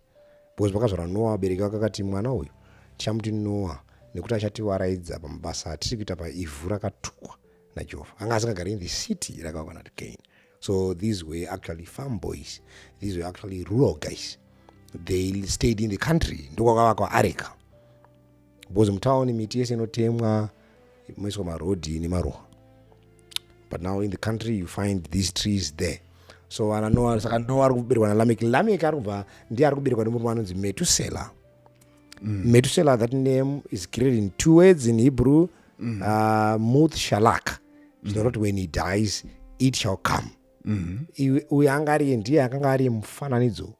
because vakazvara noah vabereki vakakati mwana uyu tichamuti noah nekuti achativaraidza pamabasa atiri kuita paivhu rakatukwa najehovha anga asingagari in the city rakavakana tigain So these were actually farm boys. These were actually rural guys. They stayed in the country. Ndokwakavakwa areka. Because mutown miti yese inotemwa moiswa marodhi nemaruwa. But now in the country you find these trees there. So ana Noah saka Noah ari kuberekwa na Lameki. Lameki ari kubva ndiye ari kuberekwa nemurume anonzi Metusela. Mm. Methuselah, that name is created in two words in Hebrew, mm. uh, Muth Shalak. Mm. So that when he dies, it shall come. Mm-hmm. uyo anga ari ndiye akanga ari mufananidzo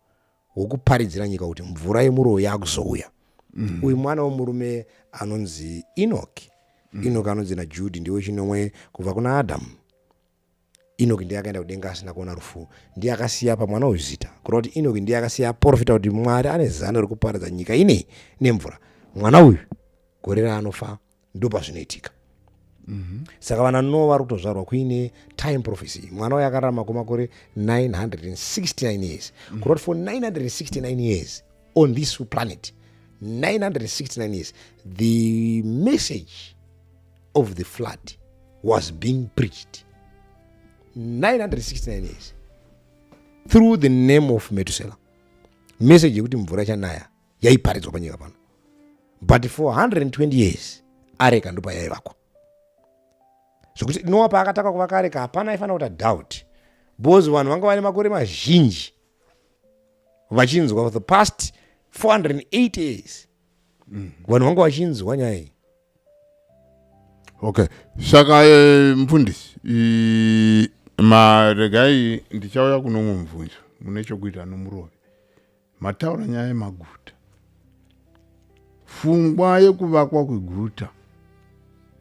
wokuparidzira nyika kuti mvura yemuroyi yakuzouya mm-hmm. uyu mwana wemurume anonzi enoki mm-hmm. enoki anonzi najudy ndiwe chinomwe kubva kuna adamu inoki ndiye akaenda kudenga asina kuona rufu ndiye akasiya pamwana uyu zita kureva kuti inoki ndiye akasiya aprofita kuti mwari ane zano rekuparadza nyika inei nemvura mwana uyu gore raanofa ndopazvinoitika mm -hmm. saka vana no vari kutozvarwa kuine time prophecy mwana uyu akararama kwemakore 969 years mm -hmm. kureva kuti for 969 years on this planet 969 years the message of the flood was being preached 969 years through the name of metusela message yekuti mvura ichanaya yaiparidzwa panyika pano but for 120 years areka ndopa yaivakwa zvekuti noa paakataka kuvaka areka hapana aifanira kuta doubt because vanhu vanga vane makore mazhinji vachinzwa for the past 480 years mm. vanhu vanga vachinzwa nyaya iyi okay saka eh, mfundisi maregai ndichauya kuno mumwe mubvunzo mune chokuita nomurove mataura nyaya yemaguta fungwa yekuvakwa kweguta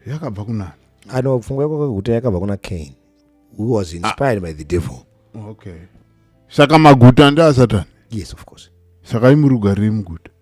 yakabva kunani ano pfungwa yekuvakwa kweguta yakabva kuna cain who was ah. inspired ah. by the devil okay saka maguta ndeasatani yes of course saka imurugari remuguta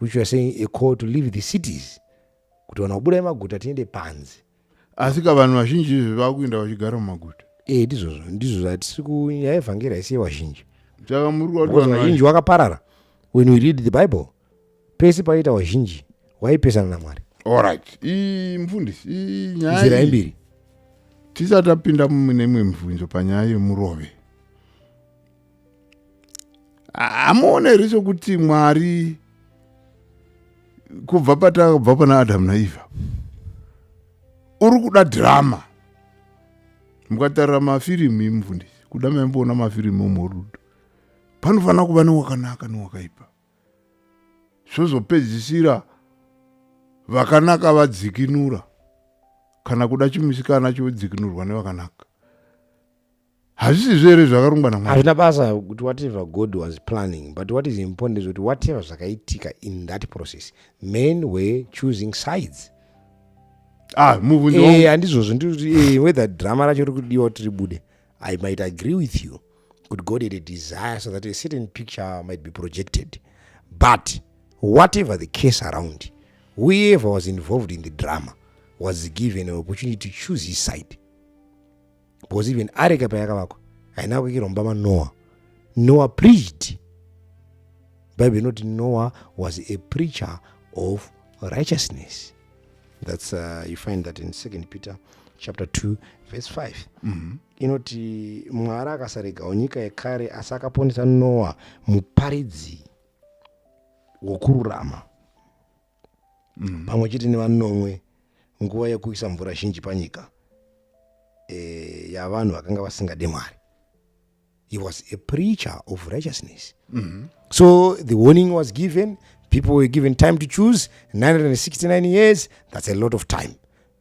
which youare saying a call to leave the cities kuti vanhu vabuda emaguta tiende panzi asi ka vanhu vazhinji izvi vakuenda vachigara mumaguta e eh, ndizvozvo ndizvo zvatisi kunyaya yevhangeri haisiye vazhinji saka muri vazhinji wakaparara when we read the bible pese paiita vazhinji waipesana namwari allright mfundisi nyaya imbiri tisati tapinda mune imwe mibvunzo panyaya yemurove hamuone here chokuti mwari kubva patakabva pana adamu naivha uri kuda drama mukatarira mafirimu imufundisi kuda maimboona mafirimu omorudo panofanira kuva newakanaka newakaipa zvozopedzisira vakanaka vadzikinura kana kuda chimusikana chodzikinurwa nevakanaka hazvisizvo here zvakarongwa namwari hazvina basa kuti whatever god was planning but what is important is kuti whatever zvakaitika in that process men were choosing sides ah, eh, handizvozvo nditi eh, whether drama racho riri kudiwa kuti ribude i might agree with you kuti god had a desire so that a certain picture might be projected but whatever the case around whoever was involved in the drama was given an opportunity to choose his side because even areka payakavakwa haina kuikirwa mumba manoa noa preached bible inoti noa was a preacher of righteousness that's uh, you find that in second peter chapter 2 verse 5 mm -hmm. inoti mwari akasaregawo nyika yekare asi akaponesa noa muparidzi wokururama mm. pamwe chete nevanomwe nguva yekuisa mvura zhinji panyika e, yavanhu vakanga vasingade mwari he was a preacher of righteousness mm -hmm. so the warning was given people were given time to choose 969 years that's a lot of time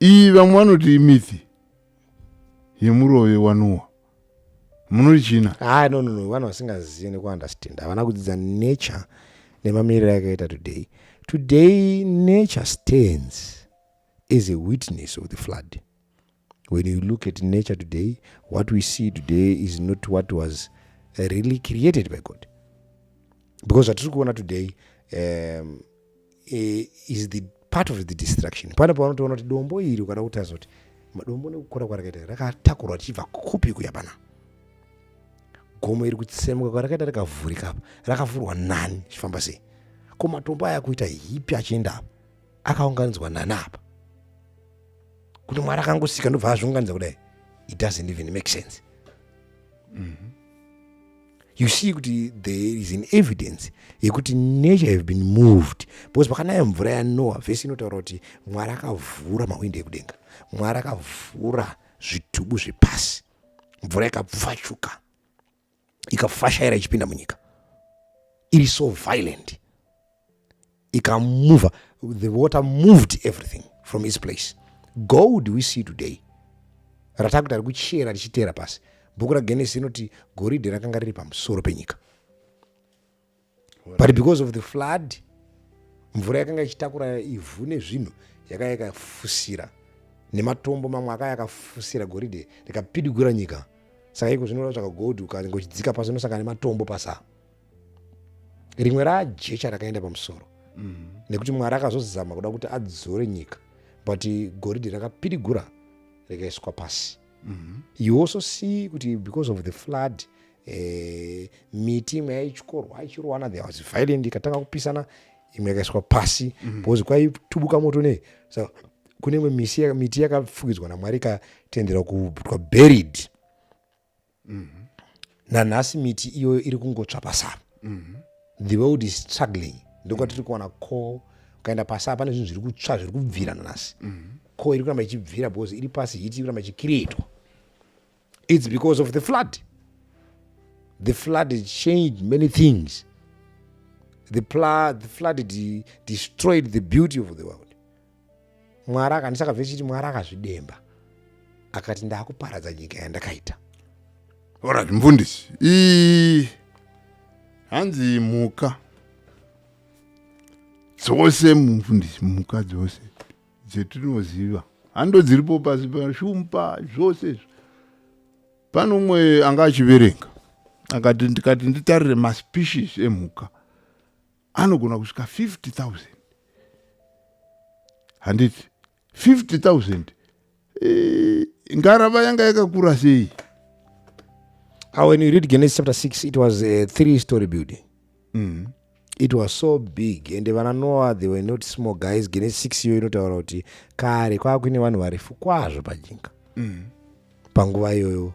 iyi vamwe vanoti imithi yemurove wanuwa munoti china ha no no no vanhu vasingazivi nekuunderstand havana kudzidza nature nemamiriro yakaita today today nature stands as a witness of the flood when you look at nature today what we see today is not what was really created by god because zvatiri kuona today um, eh, is the part of the destruction pane pavanotoona kuti dombo iri ukada kuti azoti madombo nekukura kwarakaita rakatakurwa tichibva kupi kuya pana gomo iri kutsemuka kwarakaita rakavhurika apa rakavhurwa nani chifamba sei ko matombo aya kuita hipi achienda apa akaunganidzwa nani apa kuti mwari akangosika ndobva azviunganidza kudai it doesn't even make sense mm -hmm. you see kuti there is an evidence yekuti nature have been moved because pakanaya mvura yanoa vhesi inotaura kuti mwari akavhura mahwindo ekudenga mwari akavhura zvitubu zvepasi mvura ikapfachuka ikafashaira ichipinda munyika iri so violent ikamova the water moved everything from its place gold we see today ratakuti ari kuchera richiteera pasi bhuku ragenesi inoti goridhe rakanga riri pamusoro penyika but because of the flood mvura yakanga ichitakura ivhu nezvinhu yakaya yakafusira nematombo mamwe akaya akafusira goridhe rikapidigura nyika saka iko zvinoda tsvaka gold ukange uchidzika pasi unosangana nematombo pasaa rimwe rajecha rakaenda pamusoro mm. nekuti mwari akazozama kuda kuti adzore nyika but goridhe rakapirigura rikaiswa pasi mm -hmm. you also see kuti because of the flood eh, miti imwe yaichkorwa ichirowana there was violent ikatanga kupisana imwe yakaiswa pasi mm -hmm. because kwaitubuka moto nei so kune imwe miti yakafukidzwa namwari ikatendera kubutwa buried mm -hmm. nanhasi miti iyoyo iri kungotsva pasava mm -hmm. the world is struggling ndokuva tiri kuwana ko ukaenda pasava pane zvinhu zviri kutsva zviri kubvira nanhasi mm -hmm. ko iri kuramba ichibvira because iri pasi hiti iri kuramba ichikirietwa its because of the flood the flood changed many things the, pla the flood de destroyed the beauty of the world mwari akandisa akabve chiti mwari akazvidemba akati ndakuparadza nyika yandakaita orat mfundisi ii hanzi mhuka dzose mufundisi mhuka dzose dzetinoziva hando dziripo pasi pashumpa zvose izvo pane umwe anga achiverenga akati ndikati nditarire maspecies emhuka anogona kusvika 50000 handiti 50000 eh, ngarava yanga yakakura sei ah, when you read genesis chapter 6 it was a three story building mm. it was so big and vana noa they were not small guys gene six iyo inotaura kuti kare kwava kuine vanhu varefu kwazvo pajinga mm. panguva iyoyo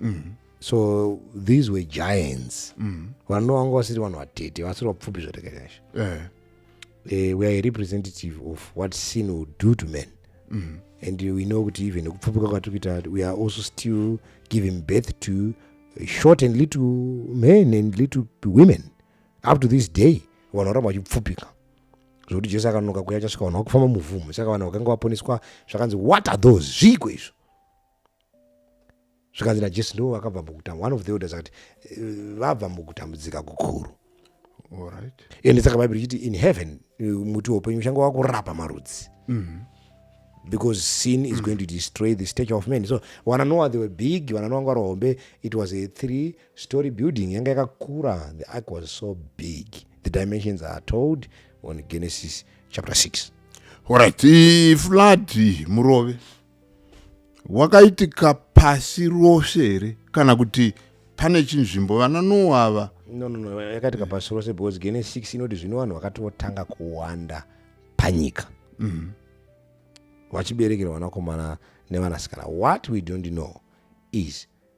mm. so these were giants mm. vanhu vanga vasiri vanhu vatete vasiri vapfupi zvatekanyasha uh. Eh. uh, eh, we are a representative of what sin will do to men mm. and we know kuti even nekupfupika kwatiri kuita we are also still giving birth to short and little men and little women up to this day vanhu varamba vachipfupika zvokuti jesu akanonoka kuya achasvika vanhu vakufamba muvhumo saka vanhu vakanga vaponeswa zvakanzi what are those zviiko izvo zvikanzi najesu ndivo vakabva mukutambua one of the elders akati eh, vabva mukutambudzika kukuru ende saka bhaibheri ichiti in heaven eh, muti woupenyu uchange wakurapa marudzi mm-hmm. because sin is mm. going to destroy the stature of men so wananoa they were big wananoa ngwari hombe it was a three Story building yanga yakakura, the ark was so big. The dimensions are told on Genesis chapter 6. Alright, flood murove wakaitika pasi rose here kana kuti pane chinzvimbo vana noa ava no no no yakaitika pasi rose because gene 6 inoti zvino vanhu vakatotanga kuwanda panyika mm. vachiberekera vanakomana nevanasikana what we don't know is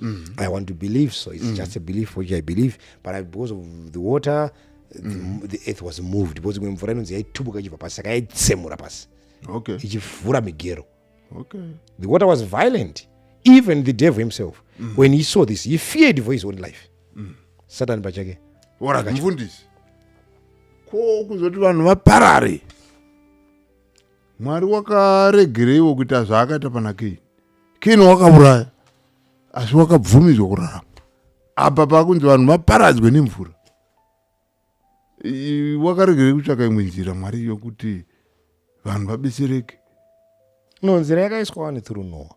mm. i want to believe so it's mm. just a belief which i believe but I, because of the water the, mm. the earth was moved because imwe mvura inonzi yaitubuka ichibva pasi saka yaitsemura pasi okay. ichivhura migero okay. the water was violent even the devil himself mm. when he saw this he feared for his own life mm. satan pachake mfundisi ko kuzoti vanhu vaparare mwari wakaregereiwo kuita zvaakaita panakei kini wakauraya asi wakabvumidzwa kurarama apa pakunzi vanhu vaparadzwe nemvura wakaregerei kutsvaka imwe nzira mwari yokuti vanhu vabetsereke no nzira yakaiswa wani through noa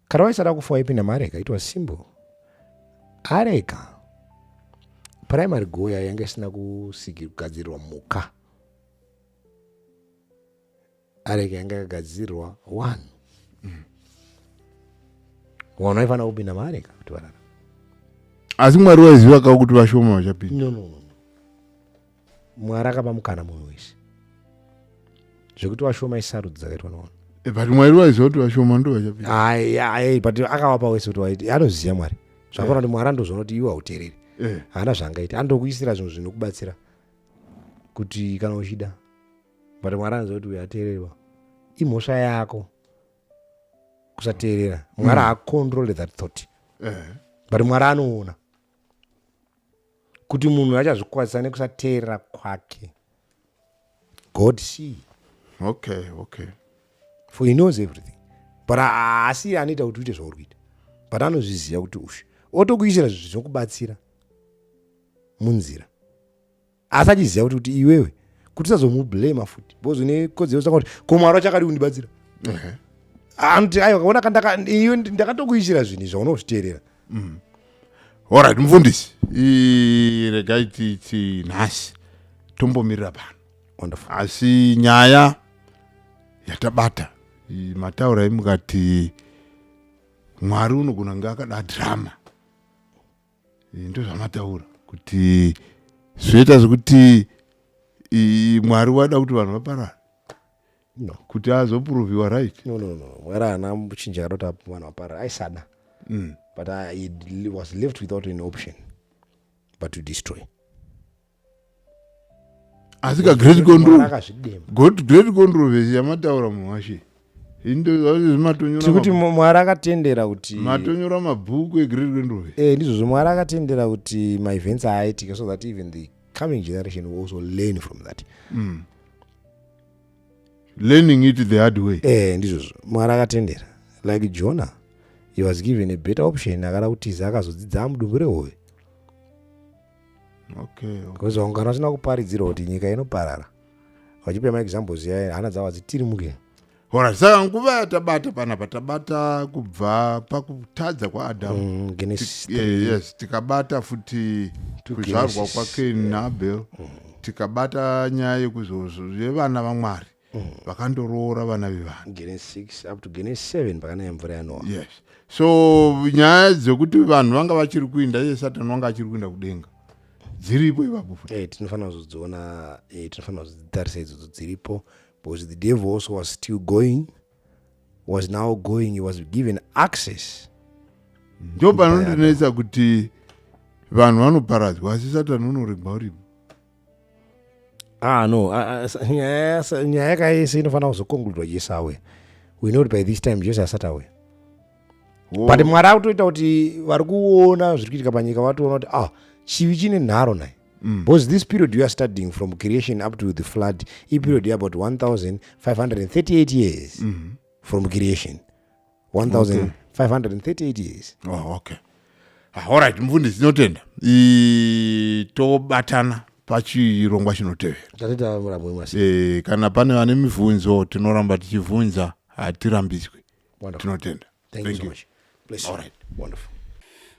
kana waisada kufa waipinda maareka it was simple areka primary goal yayo yanga isina kugadzirirwa muka areka yanga yakagadzirwa one mm. vanhu vaifanira kupinda maareka kuti varara asi mwari waiziva ka kuti vashoma vachapinda no, no, no. mwari akapa mukana munhu wese zvekuti vashoma isarudzo dzakaitwa navanhu eh, but mwari waiziva kuti vashoma ndo vachapinda but akavapa wese kuti anoziva mwari zvakaona kuti mwari andozoona kuti iwe hauteereri eh. haana zvangaita andokuisira zvinhu zvinokubatsira kuti kana uchida but mwari anzwa kuti uyo ateererwa imhosva yako kusateerera mwari haacontrole mm. that thought eh. but mwari anoona kuti munhu achazvikwazisa nekusateerera kwake god see okay okay for he knows everything but haasi anoita kuti uite zvauri kuita but anozviziva kuti ushe otokuisira zvinokubatsira munzira asi achiziva kuti kuti iwewe kuti usazomublema futi because une kodzero saka kuti ko mwari wacho akadi kundibatsira anoti aiwa kaona kandakaiwe ndakatokuichira zvinhu izvo unozviteerera mm. orit mufundisi regai titi nhasi tombomirira pano wonderful asi nyaya yatabata mataura imukati mwari unogona kunge akada drama eh, ndozvamataura kuti zvoita zvekuti mwari wada kuti vanhu vaparare no. kuti azoproviwa right no, no, no. mwari haana muchinja kana kuti vanhu vaparare aisada mm. but I, uh, was left without an option but to destroy asi ka great control great controversy yamataura munhu washe tiri kuti mwari akatendera kuti matonyora mabhuku egreat controversy eh ndizvozvo mwari akatendera kuti maevents aaitike so that even the coming generation will also learn from that mm. learning it the hard way eh ndizvozvo mwari akatendera like jonah he was given a better option akada kutiza akazodzidza amudumbu rehoyo okay, okay. ungano asina kuparidzirwa kuti nyika inoparara vachipa maexamples yaye hana dzavo hadzitirimuke hora saka nguva yatabata panapa tabata kubva pakutadza kwaadamu mm, yes eh, tikabata futi kuzvarwa kwakeni naabel mm. tikabata nyaya yekuzozvo yevana vamwari mm. vakandoroora vana vevanhu gene 6 up to gene 7 pakanaya mvura yanoa yes so nyaya dzekuti vanhu vanga vachiri kuinda iye satani wanga achiri kuinda kudenga dziripo ipapo hey, eh, tinofanira kuzodziona hey, eh, tinofanira kuzodzitarisa idzodzo dziripo because the devil also was still going was now going he was given access ndo panondinetsa kuti vanhu vanoparadzwa asi satani unoregwa uripo ah no ah, ah, nyaya yaka yese inofanira kuzokonkludiwa jesu awe we know kuti by this time jesu asati awe but mwari akutoita kuti vari kuona zviri kuitika panyika vatoona kuti ah chivi chine nharo naye Mm. Because this period you are studying from creation up to the flood, a period mm. about 1,538 years mm. from creation. 1538 years oh, okay ah, allright mufundisi tinotenda tobatana pachirongwa chinotevera eh, kana pane vane mibvunzo tinoramba tichibvunza hatirambidzwi tinotenda thank you, thank you. So much. Bless you. All right. Wonderful.